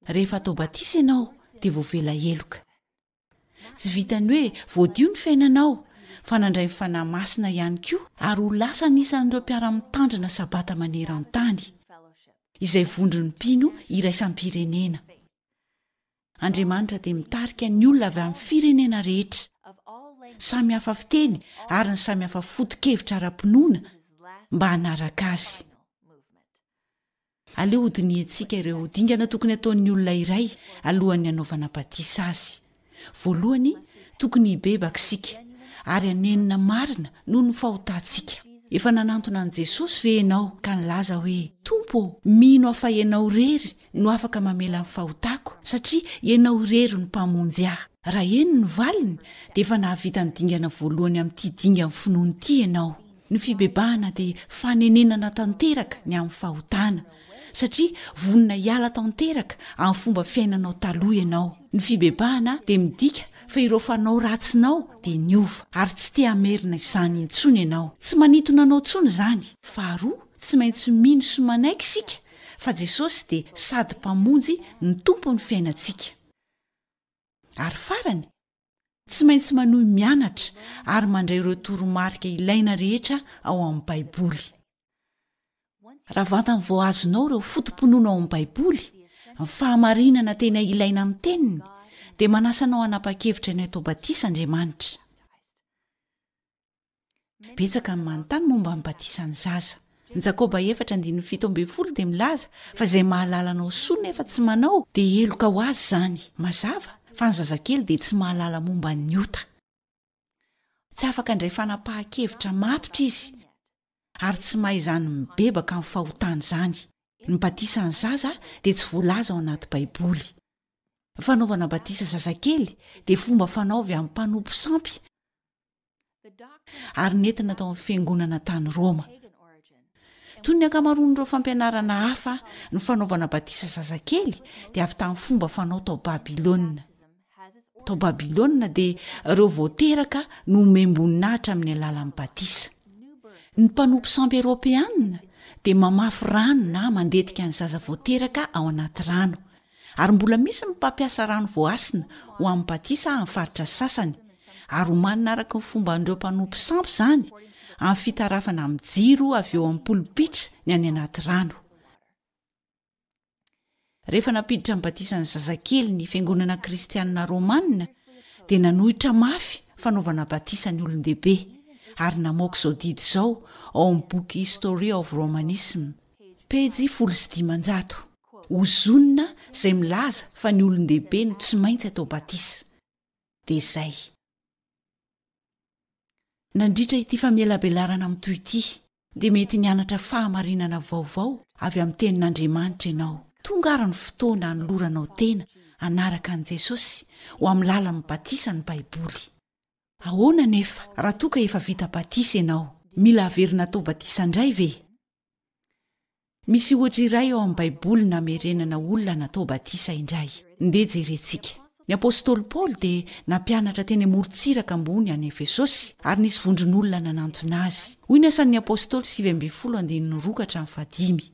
Rehefa atao batisa ianao dia voavela heloka. Tsy vitan'ny hoe voadio ny fiainanao, fa nandray ny Fanahy Masina ihany koa ary ho lasa anisan'ireo mpiara-mitandrina Sabata maneran-tany, izay vondron'ny mpino iraisam-pirenena. Andriamanitra dia mitarika ny olona avy amin'ny firenena rehetra, samy hafa fiteny ary ny samy hafa foto-kevitra ara-pinoana, mba hanaraka Azy. Aleo hodinihintsika ireo dingana tokony hataon'ny olona iray alohan'ny hanaovana batisa azy. Voalohany, tokony hibebaka isika, ary hanenina marina noho ny fahotantsika. Efa nanantona an'i Jesosy ve ianao ka nilaza hoe, Tompo ô, mino aho fa Ianao irery no afaka mamela ny fahotako, satria Ianao irery no Mpamonjy ahy? Raha eny ny valiny, dia efa nahavita ny dingana voalohany amin'ity dingan'ny finoana ity ianao. Ny fibebahana dia fanenenana tanteraka ny amin'ny fahotana, satria vonona hiala tanteraka amin'ny fomba fiainanao taloha ianao. Ny fibebahana dia midika fa ireo fanao ratsinao dia niova, ary tsy te hamerina izany intsony ianao. Tsy manintona anao intsony izany. Faharoa, tsy maintsy mino sy manaiky isika fa Jesosy dia sady Mpamonjy no Tompon'ny fiainantsika. Ary farany, Tsy maintsy manohy mianatra ary mandray ireo toromarika ilaina rehetra ao amin'ny Baiboly. Raha vantany vao azonao ireo foto-pinoana ao amin'ny Baiboly, ny fahamarinana tena ilaina amin'ny Teniny, dia manasa anao hanapa-kevitra ny hatao batisa Andriamanitra. Betsaka ny manontany momba ny batisan'ny zaza. Jakoba efatra andininy fito ambin'ny folo dia milaza fa izay mahalala anao soa nefa tsy manao dia heloka ho azy izany. Mazava fa ny zazakely dia tsy mahalala momba ny ota. Tsy afaka handray fanapahan-kevitra matotra izy ary tsy mahay izany mibebaka amin'ny fahotana izany. Ny batisan'ny zaza dia tsy voalaza ao anaty Baiboly. Ny fanaovana batisa zazakely dia fomba fanao avy amin'ny mpanompo sampy ary nentina tao amin'ny fiangonana tany roma toy ny ankamaroan'ireo fampianarana hafa ny fanaovana batisa zazakely dia avy tamin'ny fomba fanao tao babylona tao babylona dia ireo voateraka no omem-boninahitra amin'ny alalan'ny batisa ny mpanompo sampy eropeanina dia mamafy rano na mandetika ny zaza voateraka ao anaty rano ary mbola misy ny mpampiasa rano voahasina ho amin'ny batisa amin'ny faritra sasany, ary homanina araka ny fomban'ireo mpanompo sampy izany, amin'ny fitarafana amin'ny jiro avy eo amin'ny polipitra ny any anaty rano. Rehefa nampiditra ny batisan'ny zazakely ny Fiangonana Kristianina Romanina, dia nanohitra mafy fanaovana batisa ny olon-dehibe, ary namoaka izao didy izao ao amin'ny boky History of Romanism, pejy folo sy dimanjato. Ozona izay milaza fa ny olon-dehibe no tsy maintsy atao batisa. Dia izay. Nandritra ity famelabelarana mitohy ity, dia mety nianatra fahamarinana vaovao avy amin'ny Tenin'Andriamanitra ianao. Tonga àry ny fotoana hanoloranao tena hanaraka an'i Jesosy ho amin'ny lalan'ny batisa ny Baiboly. Ahoana anefa raha toa ka efa vita batisa ianao? Mila averina atao batisa indray ve? Misy ohatra iray ao amin'ny Baiboly namerenana olona natao batisa indray. Ndeha jerentsika. Ny apostoly Paoly dia nampianatra teny amorontsiraka ambony any Efesosy, ary nisy vondron'olona nanantona azy. Hoy ny Asan'ny Apostoly sivy ambin'ny folo andininy roa ka hatramin'ny fahadimy.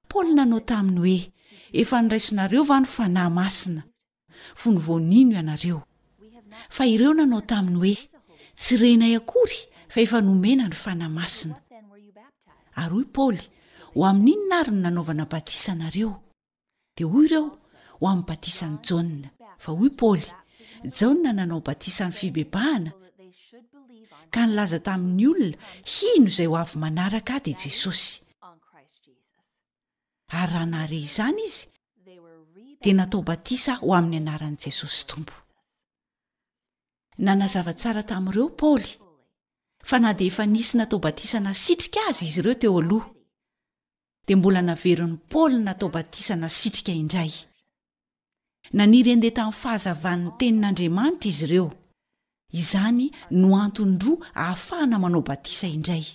Paoly nanao taminy hoe, Efa niraisinareo va ny Fanahy Masina? fony vao nino ianareo. Fa ireo nanao taminy hoe, Tsy renay akory fa efa nomena ny Fanahy Masina. Ary hoy Paoly, Ho amin'inona ary no nanaovana batisa anareo? Dia hoy ireo, Ho amin'ny batisan'i Jaona. Fa hoy Paoly, Jaona nanao batisa amin'ny fibebahana, ka nilaza tamin'ny olona hino izay ho avy manaraka ahy dia Jesosy. ary raha nahare izany izy, dia natao batisa ho amin'ny anaran'i Jesosy Tompo. Nanazava tsara tamin'ireo Paoly fa na dia efa nisy natao batisa nasitrika aza izy ireo teo aloha, dia mbola naverin'i Paoly natao batisa nasitrika indray. Naniry handeha tamin'ny fahazavan'ny Tenin'Andriamanitra izy ireo. Izany no antony roa ahafahana manao batisa indray.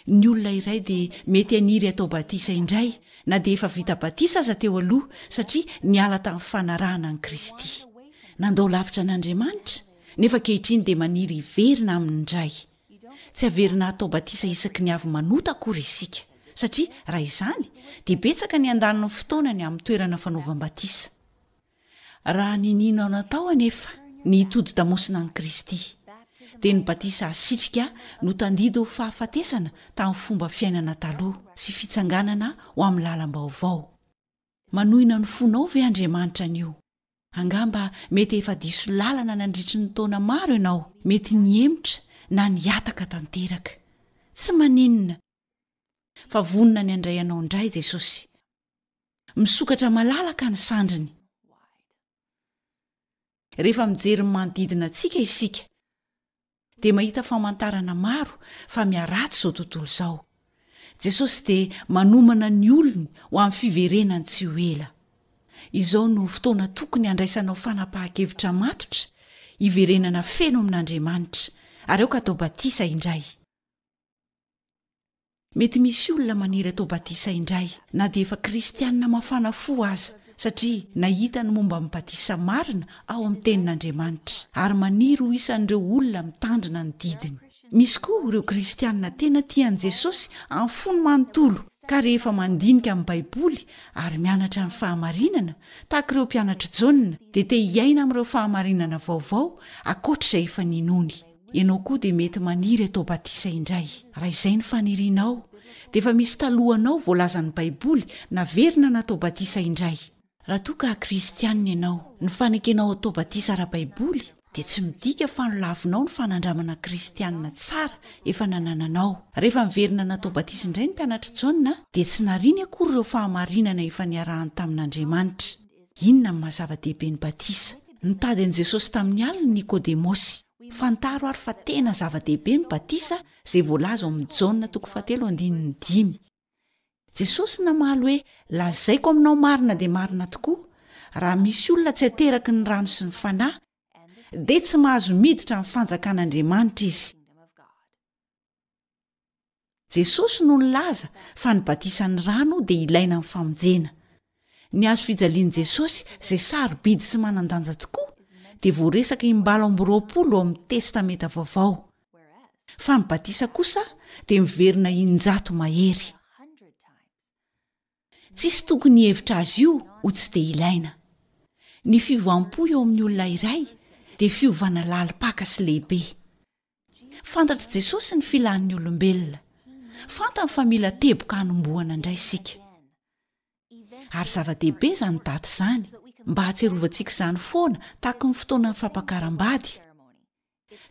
Ny olona iray dia mety haniry hatao batisa indray, na dia efa vita batisa aza teo aloha, satria niala tamin'ny fanarahana an'i Kristy. Nandao lavitra an'Andriamanitra, nefa ankehitriny dia maniry hiverina Aminy indray. Tsy haverina hatao batisa isaky ny avy manota akory isika, satria raha izany, dia betsaka ny handany ny fotoanany amin'ny toerana fanaovam-batisa. Raha ninianao natao anefa ny hitodi-damosina an'i Kristy, dia ny batisa asitrika no tandid ho fahafatesana tamin'ny fomba fiainana taloha sy fitsanganana ho amin'ny lalam-baovao. Manohina ny fonao ve Andriamanitra anio? Angamba mety efa diso lalana nandritry ny taona maro ianao, mety nihemotra na nihataka tanteraka. Tsy maninona, fa vonona ny handray anao indray Jesosy. Misokatra malalaka ny sandriny. Rehefa mijery ny manodidina antsika isika, dia mahita famantarana maro fa miharatsy izao tontolo izao. Jesosy dia manomana ny olony ho amin'ny fiverenany tsy ho ela. Izao no fotoana tokony handraisanao fanapahan-kevitra matotra hiverenana feno amin'Andriamanitra, ary aoka atao batisa indray. Mety misy olona maniry atao batisa indray na dia efa kristiana mafana fo aza, satria nahita ny momba ny batisa marina ao amin'ny Tenin'Andriamanitra, ary maniry ho isan'ireo olona mitandrina ny didiny. Misy koa ireo kristiana tena tia an'i Jesosy amin'ny fony manontolo, ka rehefa mandinika ny Baiboly ary mianatra ny fahamarinana, tahaka ireo mpianatr'i Jaona, dia te hiaina amin'ireo fahamarinana vaovao ankoatra izay efa ninoany. Ianao koa dia mety maniry atao batisa indray. Raha izay ny fanirianao, dia efa misy talohanao voalazan'ny Baiboly naverina natao batisa indray. Raha toa ka Kristianina ianao, ny fanekenao atao batisa ara-baiboly dia tsy midika fa nolavinao ny fanandramana kristianina tsara efa nanananao. Rehefa niverina natao batisa indray ny mpianatr'i Jaona, dia tsy nariany akory ireo fahamarinana efa niarahany tamin'Andriamanitra. Inona no maha-zava-dehibe ny batisa? Nitady an'i Jesosy tamin'ny alina i Nikodemosy. Fantaro àry fa tena zava-dehibe ny batisa, izay voalaza ao amin'ny Jaona toko fahatelo andininy dimy. Jesosy namaly hoe, Lazaiko aminao marina dia marina tokoa, raha misy olona tsy ateraky ny rano sy ny Fanahy, dia tsy mahazo miditra amin'ny fanjakan'Andriamanitra izy. Jesosy no nilaza fa ny batisan'ny rano dia ilaina amin'ny famonjena. Ny hazo fijalian'i Jesosy izay sarobidy sy manan-danja tokoa dia voaresaka im-balo amby roapolo ao amin'ny Testamenta Vaovao, fa ny batisa kosa dia miverina in-jato mahery. Tsisy tokony hihevitra azy io ho tsy dia ilaina. Ny fiovampo eo amin'ny olona iray dia fiovana lalim-paka sy lehibe. Fantatr'i Jesosy ny filàn'ny olombelona. Fantany fa mila teboka hanombohana indray isika. Ary zava-dehibe izany daty izany, mba hahatsiarovantsika izany foana tahaky ny fotoanan'ny fampakaram-bady,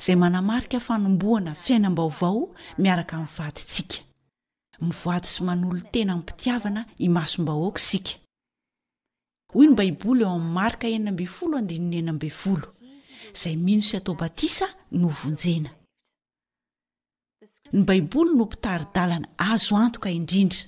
izay manamarika fanombohana fiainam-baovao miaraka amin'ny vadintsika. Mivady sy manolo-tena amim-pitiavana imasom-bahoaka isika. Hoy ny Baiboly ao amin'ny Marka enina ambin'ny folo andininy enina ambin'ny folo, Izay mino sy atao batisa no vonjena. Ny Baiboly no mpitari-dalana azo antoka indrindra,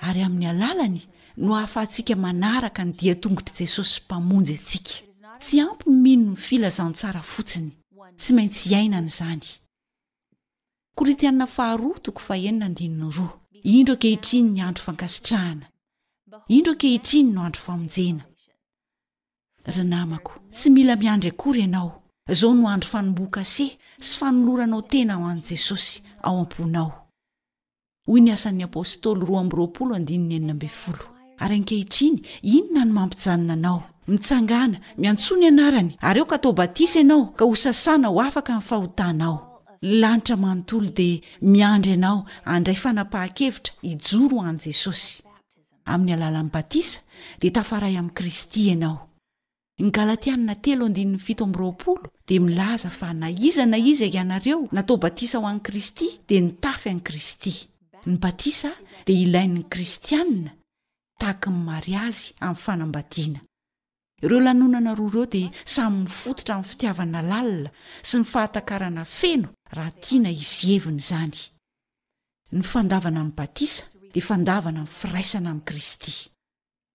ary amin'ny alalany no ahafahantsika manaraka ny dian-tongotr'i Jesosy Mpamonjy antsika. Tsy ampy ny mino ny filazantsara fotsiny, tsy maintsy iainana izany. Korintiana Faharoa toko fahenina andininy roa. Indro ankehitriny ny andro fankasitrahana, indro ankehitriny no andro famonjena. Ry namako, tsy mila miandry akory ianao, izao no andro fanombohan-kase sy fanoloranao tena ho an'i Jesosy ao am-ponao. hoy ny Asan'ny Apostoly roa amby roapolo andininy enina ambin'ny folo. Ary ankehitriny, inona no mampijanona anao? Mitsangàna, miantsoa ny Anarany, ary aoka atao batisa ianao, ka hosasana ho afaka amin'ny fahotanao. Ny lanitra manontolo dia miandry anao handray fanapahan-kevitra hijoro ho an'i Jesosy. Amin'ny alalan'ny batisa, dia tafaray amin'i Kristy ianao. Ny Galatiana telo andininy fito amby roapolo dia milaza fa na iza na iza ianareo natao batisa ho an'i Kristy dia nitafy an'i Kristy. Ny batisa dia ilain'ny kristiana tahaka ny mariazy amin'ny fanambadiana. Ireo lanonana roa ireo dia samy mifototra amin'ny fitiavana lalina sy ny fahatakarana feno raha tiana hizevina izany. Ny fandavana ny batisa dia fandavana ny firaisana amin'i Kristy.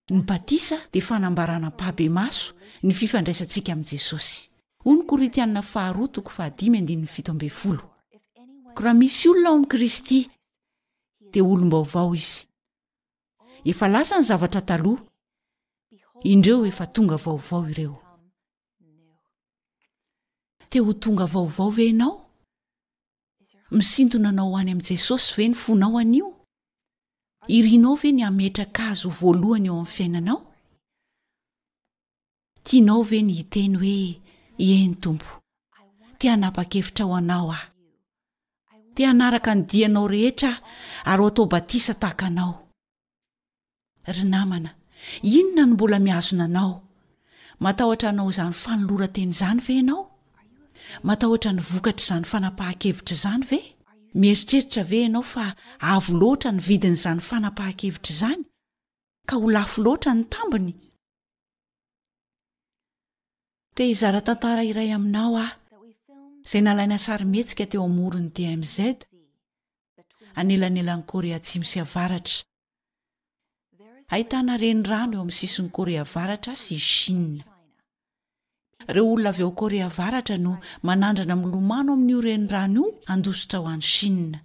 Ny batisa dia fanambarana ampahibemaso ny fifandraisantsika amin'i Jesosy. Hoy ny Korintiana faharoa toko fahadimy andininy fito ambin'ny folo, Ko raha misy olona ao amin'i Kristy, dia olom-baovao izy. Efa lasa ny zavatra taloha, indreo efa tonga vaovao ireo. Te ho tonga vaovao ve ianao? Misintona anao ho any amin'i Jesosy ve ny fonao anio? Irinao ve ny hametraka Azy ho voalohany eo amin'ny fiainanao? Tianao ve ny hiteny hoe, Eny, Tompo, te hanapa-kevitra ho Anao aho. Te hanaraka ny dianao rehetra ary ho atao batisa tahaka Anao. Ry namana, inona no mbola mihazona anao? Matahotra hanao izany fanoloran-tena izany ve ianao? Matahotra ny vokatr'izany fanapahan-kevitra izany ve? Mieritreritra ve ianao fa avo loatra ny vidin'izany fanapahan-kevitra izany, ka ho lafo loatra ny tambiny? Te hizara tantara iray aminao aho, izay nalaina sarimihetsika teo amoron'ny DMZ, anelanelan'i Korea Atsimo sy Avaratra. Ahitana renirano eo amin'ny sisin'i Korea Avaratra sy i Shina. Ireo olona avy ao Korea Avaratra no manandrana milomano amin'io renirano io handositra ho any Shina.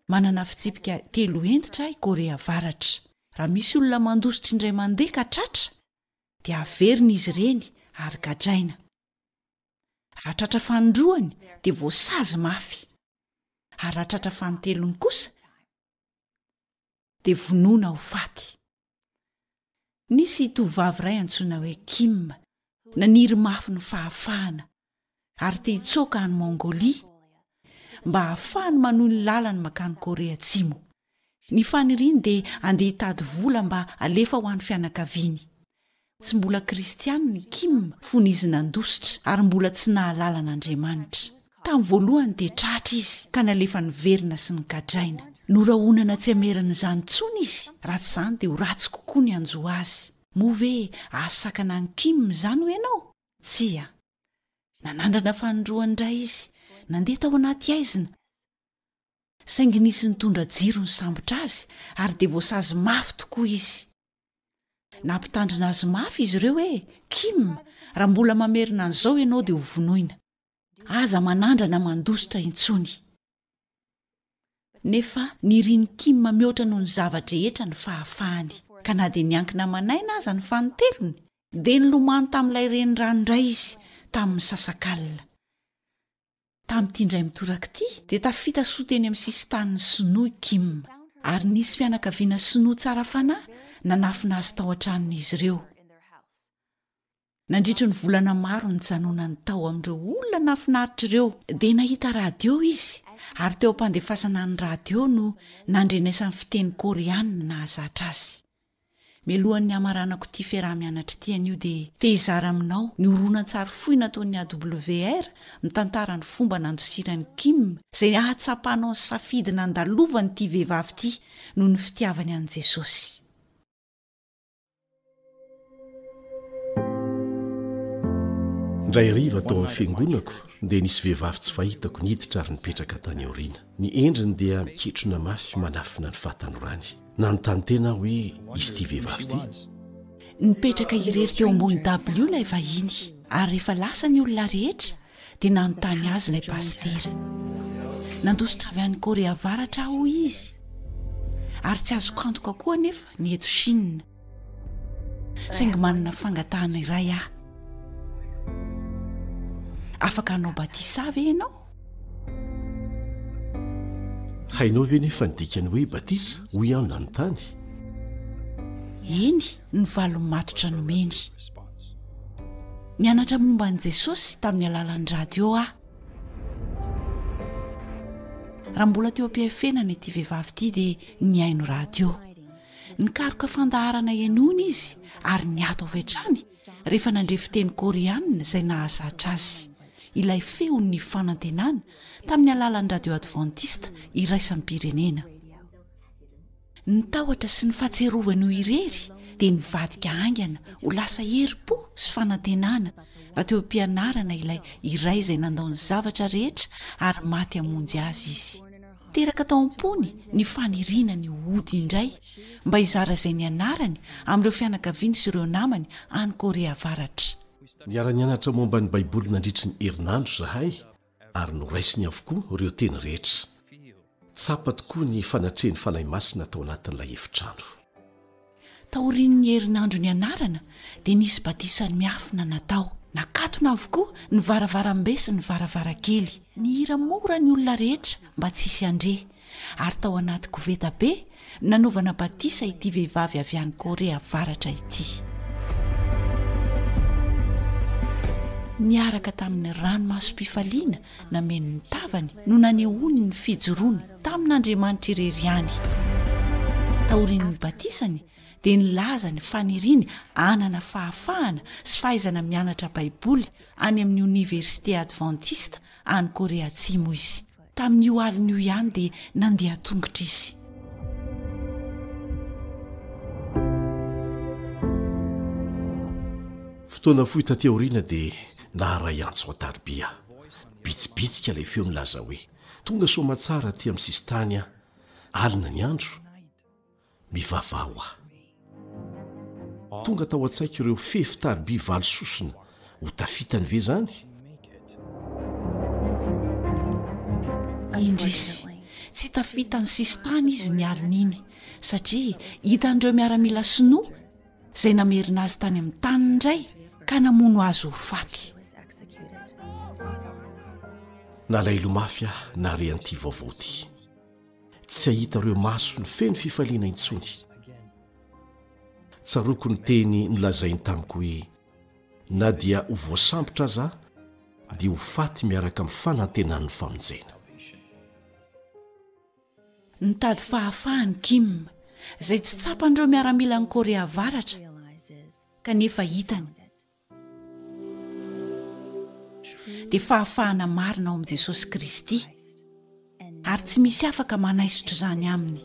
Manana fitsipika telo hentitra i Korea Avaratra. Raha misy olona mandositra indray mandeha ka tratra, dia averina izy ireny ary gadraina. Raha tratra fanindroany dia voasazy mafy, ary raha tratra fanintelony kosa dia vonoina ho faty. Nisy tovovavy iray antsoina hoe Kim naniry mafy ny fahafahana ary te hitsoaka any Mongolia mba hahafahany manohy ny lalany mankany Korea Atsimo. Ny faniriany dia handeha hitady vola mba halefa ho an'ny fianakaviany. Tsy mbola Kristianina i Kim fony izy nandositra ary mbola tsy nahalala an'Andriamanitra. Tamin'ny voalohany dia tratra izy ka nalefa niverina sy nogadraina. Norahonana tsy hameran'izany intsony izy, raha tsy izany dia ho ratsy kokoa ny hanjo azy. Moa ve hahasakana an'i Kim izany hoy ianao? Tsia. Nanandrana fanindroany indray izy, nandeha tao anaty haizina. saingy nisy nitondra jiro nisambotra azy ary dia voasazy mafy tokoa izy. Nampitandrina azy mafy izy ireo hoe, Kim, raha mbola mamerina an'izao ianao dia hovonoina. Aza manandrana mandositra intsony. Nefa nirin'i Kim mihoatra noho ny zava-drehetra ny fahafahany, ka na dia niankina aman'aina aza ny fanintelony, dia nilomano tamin'ilay renirano indray izy tamin'ny misasakalina. Tamin'ity indray mitoraka ity, dia tafita soa teny amin'ny sisin-tanin'ny Sinoa i Kim, ary nisy fianakaviana Sinoa tsara fanahy nanafina azy tao an-tranon'izy ireo. Nandritry ny volana maro nijanonany tao amin'ireo olona nahafinaritra ireo, dia nahita radio izy, ary teo am-pandefasana ny radio no nandrenesany fiteny Koreana nahazatra azy. Mialohan'ny hamaranako ity fiaraha-mianatra ity anio dia te hizara aminao ny horonantsary fohy nataon'ny AWR mitantara ny fomba nandosiran'i Kim izay hahatsapanao ny safidy nandalovan'ity vehivavy ity noho ny fitiavany an'i Jesosy. Indray hariva tao amin'ny fiangonako dia nisy vehivavy tsy fahitako niditra ary nipetraka tany aoriana. Ny endriny dia miketrona mafy manafina ny fahatanorany. Nanontany tena aho hoe izy ity vehivavy ity. Nipetraka irery teo ambony dabilio ilay vahiny, ary rehefa lasa ny olona rehetra dia nanontany azy ilay pasitera. Nandositra avy any Korea Avaratra aho, hoy izy, ary tsy azoko antoka koa anefa ny eto Shina, saingy manana fangatahana iray aho. Afaka hanao batisa ve ianao? Hainao ve nefa ny dikan'ny hoe batisa? hoy aho nanontany. Eny, ny valiny matotra nomeny. Nianatra momba an'i Jesosy tamin'ny alalan'ny radio aho. Raha mbola teo am-pihafenana ity vehivavy ity dia nihaino radio. Nikaroka fandaharana henoina izy ary niato avy hatrany rehefa nandre fiteny koreanina izay nahazatra azy. ilay feon'ny fanantenana tamin'ny alalan'ny radio advantista iraisam-pirenena. Ny tahotra sy ny fahatsiarovany irery dia nivadika haingana ho lasa herim-po sy fanantenana raha teo am-pianarana ilay iray izay nandao ny zavatra rehetra ary maty hamonjy azy izy. Teraka tao am-pony ny faniriana ny hody indray mba hizara izay nianarany amin'ireo fianakaviany sy ireo namany any Korea Avaratra. Niara-nianatra momba ny Baiboly nandritry ny herinandro izahay, ary noraisiny avokoa ireo teny rehetra. Tsapa tokoa ny fanatrehan'ny fanahy masina tao anatin'ilay efitrano. Taorian'ny herinandro nianarana, dia nisy batisa miafina natao. Nakatona avokoa ny varavarambe sy ny varavarankely. Nihira mora ny olona rehetra mba tsy hisy handre, ary tao anaty koveta be nanaovana batisa ity vehivavy avy any Corée Avaratra ity. Niaraka tamin'ny ranomasom-pifaliana nameno ny tavany no nanehoany ny fijoroany tamin'Andriamanitra irery ihany. Taorian'ny batisany dia nilaza ny faniriany hanana fahafahana sy fahaizana mianatra Baiboly any amin'ny Oniversite Advantista any Korea Atsimo izy. Tamin'io alina io ihany dia nandeha an-tongotra izy. Fotoana fohy taty aoriana dia naharay antso an-tariby aho. Bitsibitsika ilay feo nilaza hoe, Tonga Soamatsara aty amin'ny sisintany aho. Alina ny andro. Mivavaha ho ahy. Tonga tao an-tsaiko ireo fefy tariby valo sosona. Ho tafitany ve izany? Indrisy, tsy tafitan'ny sisintany izy ny alin'iny, satria hitan'ireo miaramila sinoa izay namerina azy tany amin'ny taniny indray ka namono azy ho faty. Nalaelo mafy aho nahare an'ity vaovao ity. tsy hahita ireo masony feno fifaliana intsony. Tsaroako ny teny nolazainy tamiko hoe, na dia ho voasambotra aza aho, dia ho faty miaraka amin'ny fanantenan'ny famonjena. Nitady fahafahana i Kim, izay tsy tsapan'ireo miaramilan'i Korea Avaratra, kanefa hitany. dia fahafahana marina ao amin'i Jesosy Kristy, ary tsy misy afaka manaisotra izany Aminy.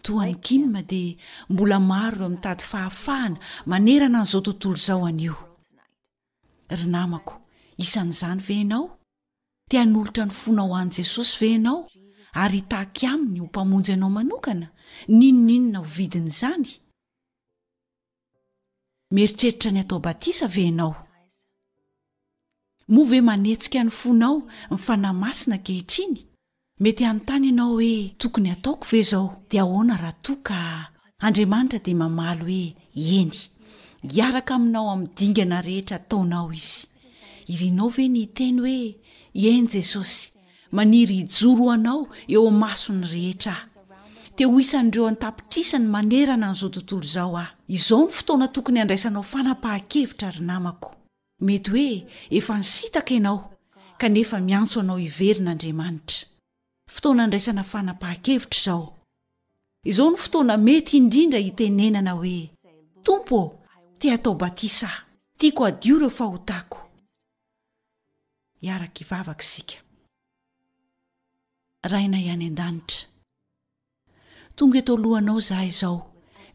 toa an'i Kim dia mbola maro ireo mitady fahafahana manerana an'izao tontolo izao anio. Ry namako, isan'izany ve ianao? Te hanolotra ny fonao ho an'i Jesosy ve ianao ary hitaky Aminy ho Mpamonjy anao manokana, n'inon'inona ho vidin'izany? Mieritreritra ny hatao batisa ve ianao? Moa ve manetsika ny fonao ny Fanahy Masina ankehitriny? Mety hanontany ianao hoe, Tokony hataoko ve izao? Dia ahoana raha toa ka. Andriamanitra dia mamaly hoe, Eny. Hiaraka aminao amin'ny dingana rehetra ataonao Izy. Irinao ve ny hiteny hoe, Eny Jesosy, maniry hijoro ho Anao eo imason'ny rehetra aho. Te ho isan'ireo an-tapitrisany manerana an'izao tontolo izao aho. Izao no fotoana tokony handraisanao fanapahan-kevitra ry namako. Mety hoe efa nisitaka ianao, kanefa miantso anao hiverina Andriamanitra. Fotoana andraisana fanapahan-kevitra izao. Izao no fotoana mety indrindra hitenenana hoe, Tompo ô, te hatao batisa aho. Tiako hadio ireo fahotako. Hiaraka hivavaka isika. Rainay any An-danitra. Tonga eto alohanao izaho izao,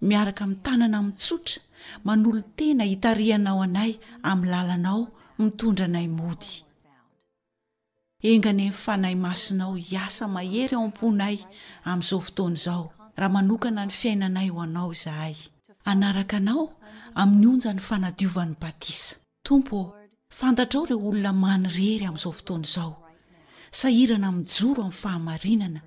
miaraka amin'ny tanana mitsotra, manolo-tena hitarihanao anay amin'ny lalanao mitondra anay mody. Enga anie ny Fanahy Masinao hiasa mahery ao am-ponay amin'izao fotoana izao, raha manokana ny fiainanay ho Anao izahay. Hanaraka Anao amin'ny onjan'ny fanadiovan'ny batisa. Tompo ô, fantatrao ireo olona manirery amin'izao fotoana izao, sahirana mijoro amin'ny fahamarinana,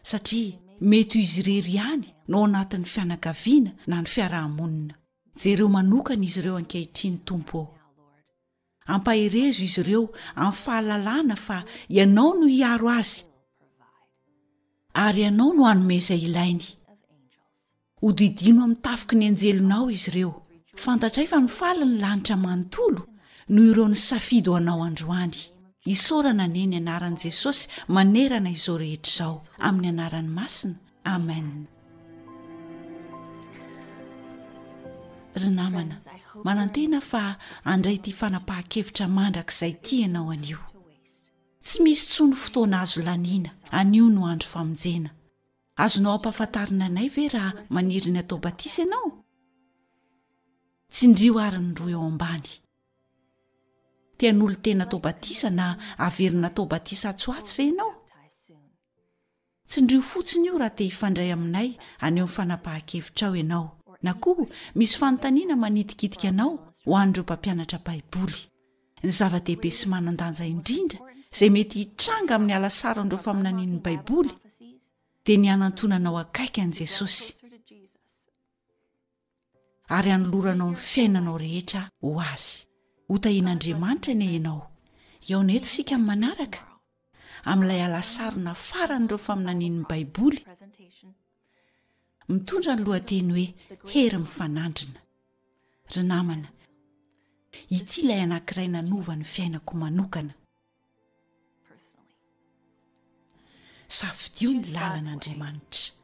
satria mety ho izy irery ihany no ao anatin'ny fianakaviana na ny fiaraha-monina. Jereo manokana izy ireo ankehitriny, Tompo ô. Ampaherezo izy ireo amin'ny fahalalana fa Ianao no hiaro azy, ary Ianao no hanome izay ilainy. Hodidino amin'ny tafiky ny anjelinao izy ireo. Fantatray fa mifaly ny lanitra manontolo noho ireo nisafidy ho anao androany. Isaorana anie ny anaran'i Jesosy manerana izao rehetra izao, amin'ny anarany masina. Amen. Ry namana, manantena fa handray ity fanapahan-kevitra mandrakizay ity ianao anio. Tsy misy intsony fotoana azo laniana, anio no andro famonjena. Azonao ampahafantarina anay ve raha maniry ny hatao batisa ianao? Tsindrio àry ny roa eo ambany. Te-hanolo-tena hatao batisa na haverina hatao batisa atsy ho atsy ve ianao? Tsindrio fotsiny io raha te hifandray aminay haneho ny fanapahan-kevitrao ianao, na koa misy fanontaniana manitikitika anao ho an'ireo mpampianatra Baiboly. Ny zava-dehibe sy manan-danja indrindra izay mety hitranga amin'ny halasaron'ireo faminanian'ny Baiboly dia ny hanantonana ao akaiky an'i Jesosy ary hanoloranao ny fiainanao rehetra ho azy. Hotahian'Andriamanitra anie ianao. Hihaona eto isika amin'ny manaraka amin'ilay alasarona faran'ireo faminanian'ny Baiboly mitondra ny lohateny hoe Hery Mifanandrina. Ry namana, ity ilay anankiray nanova ny fiainako manokana. Safidio ny lalan'Andriamanitra.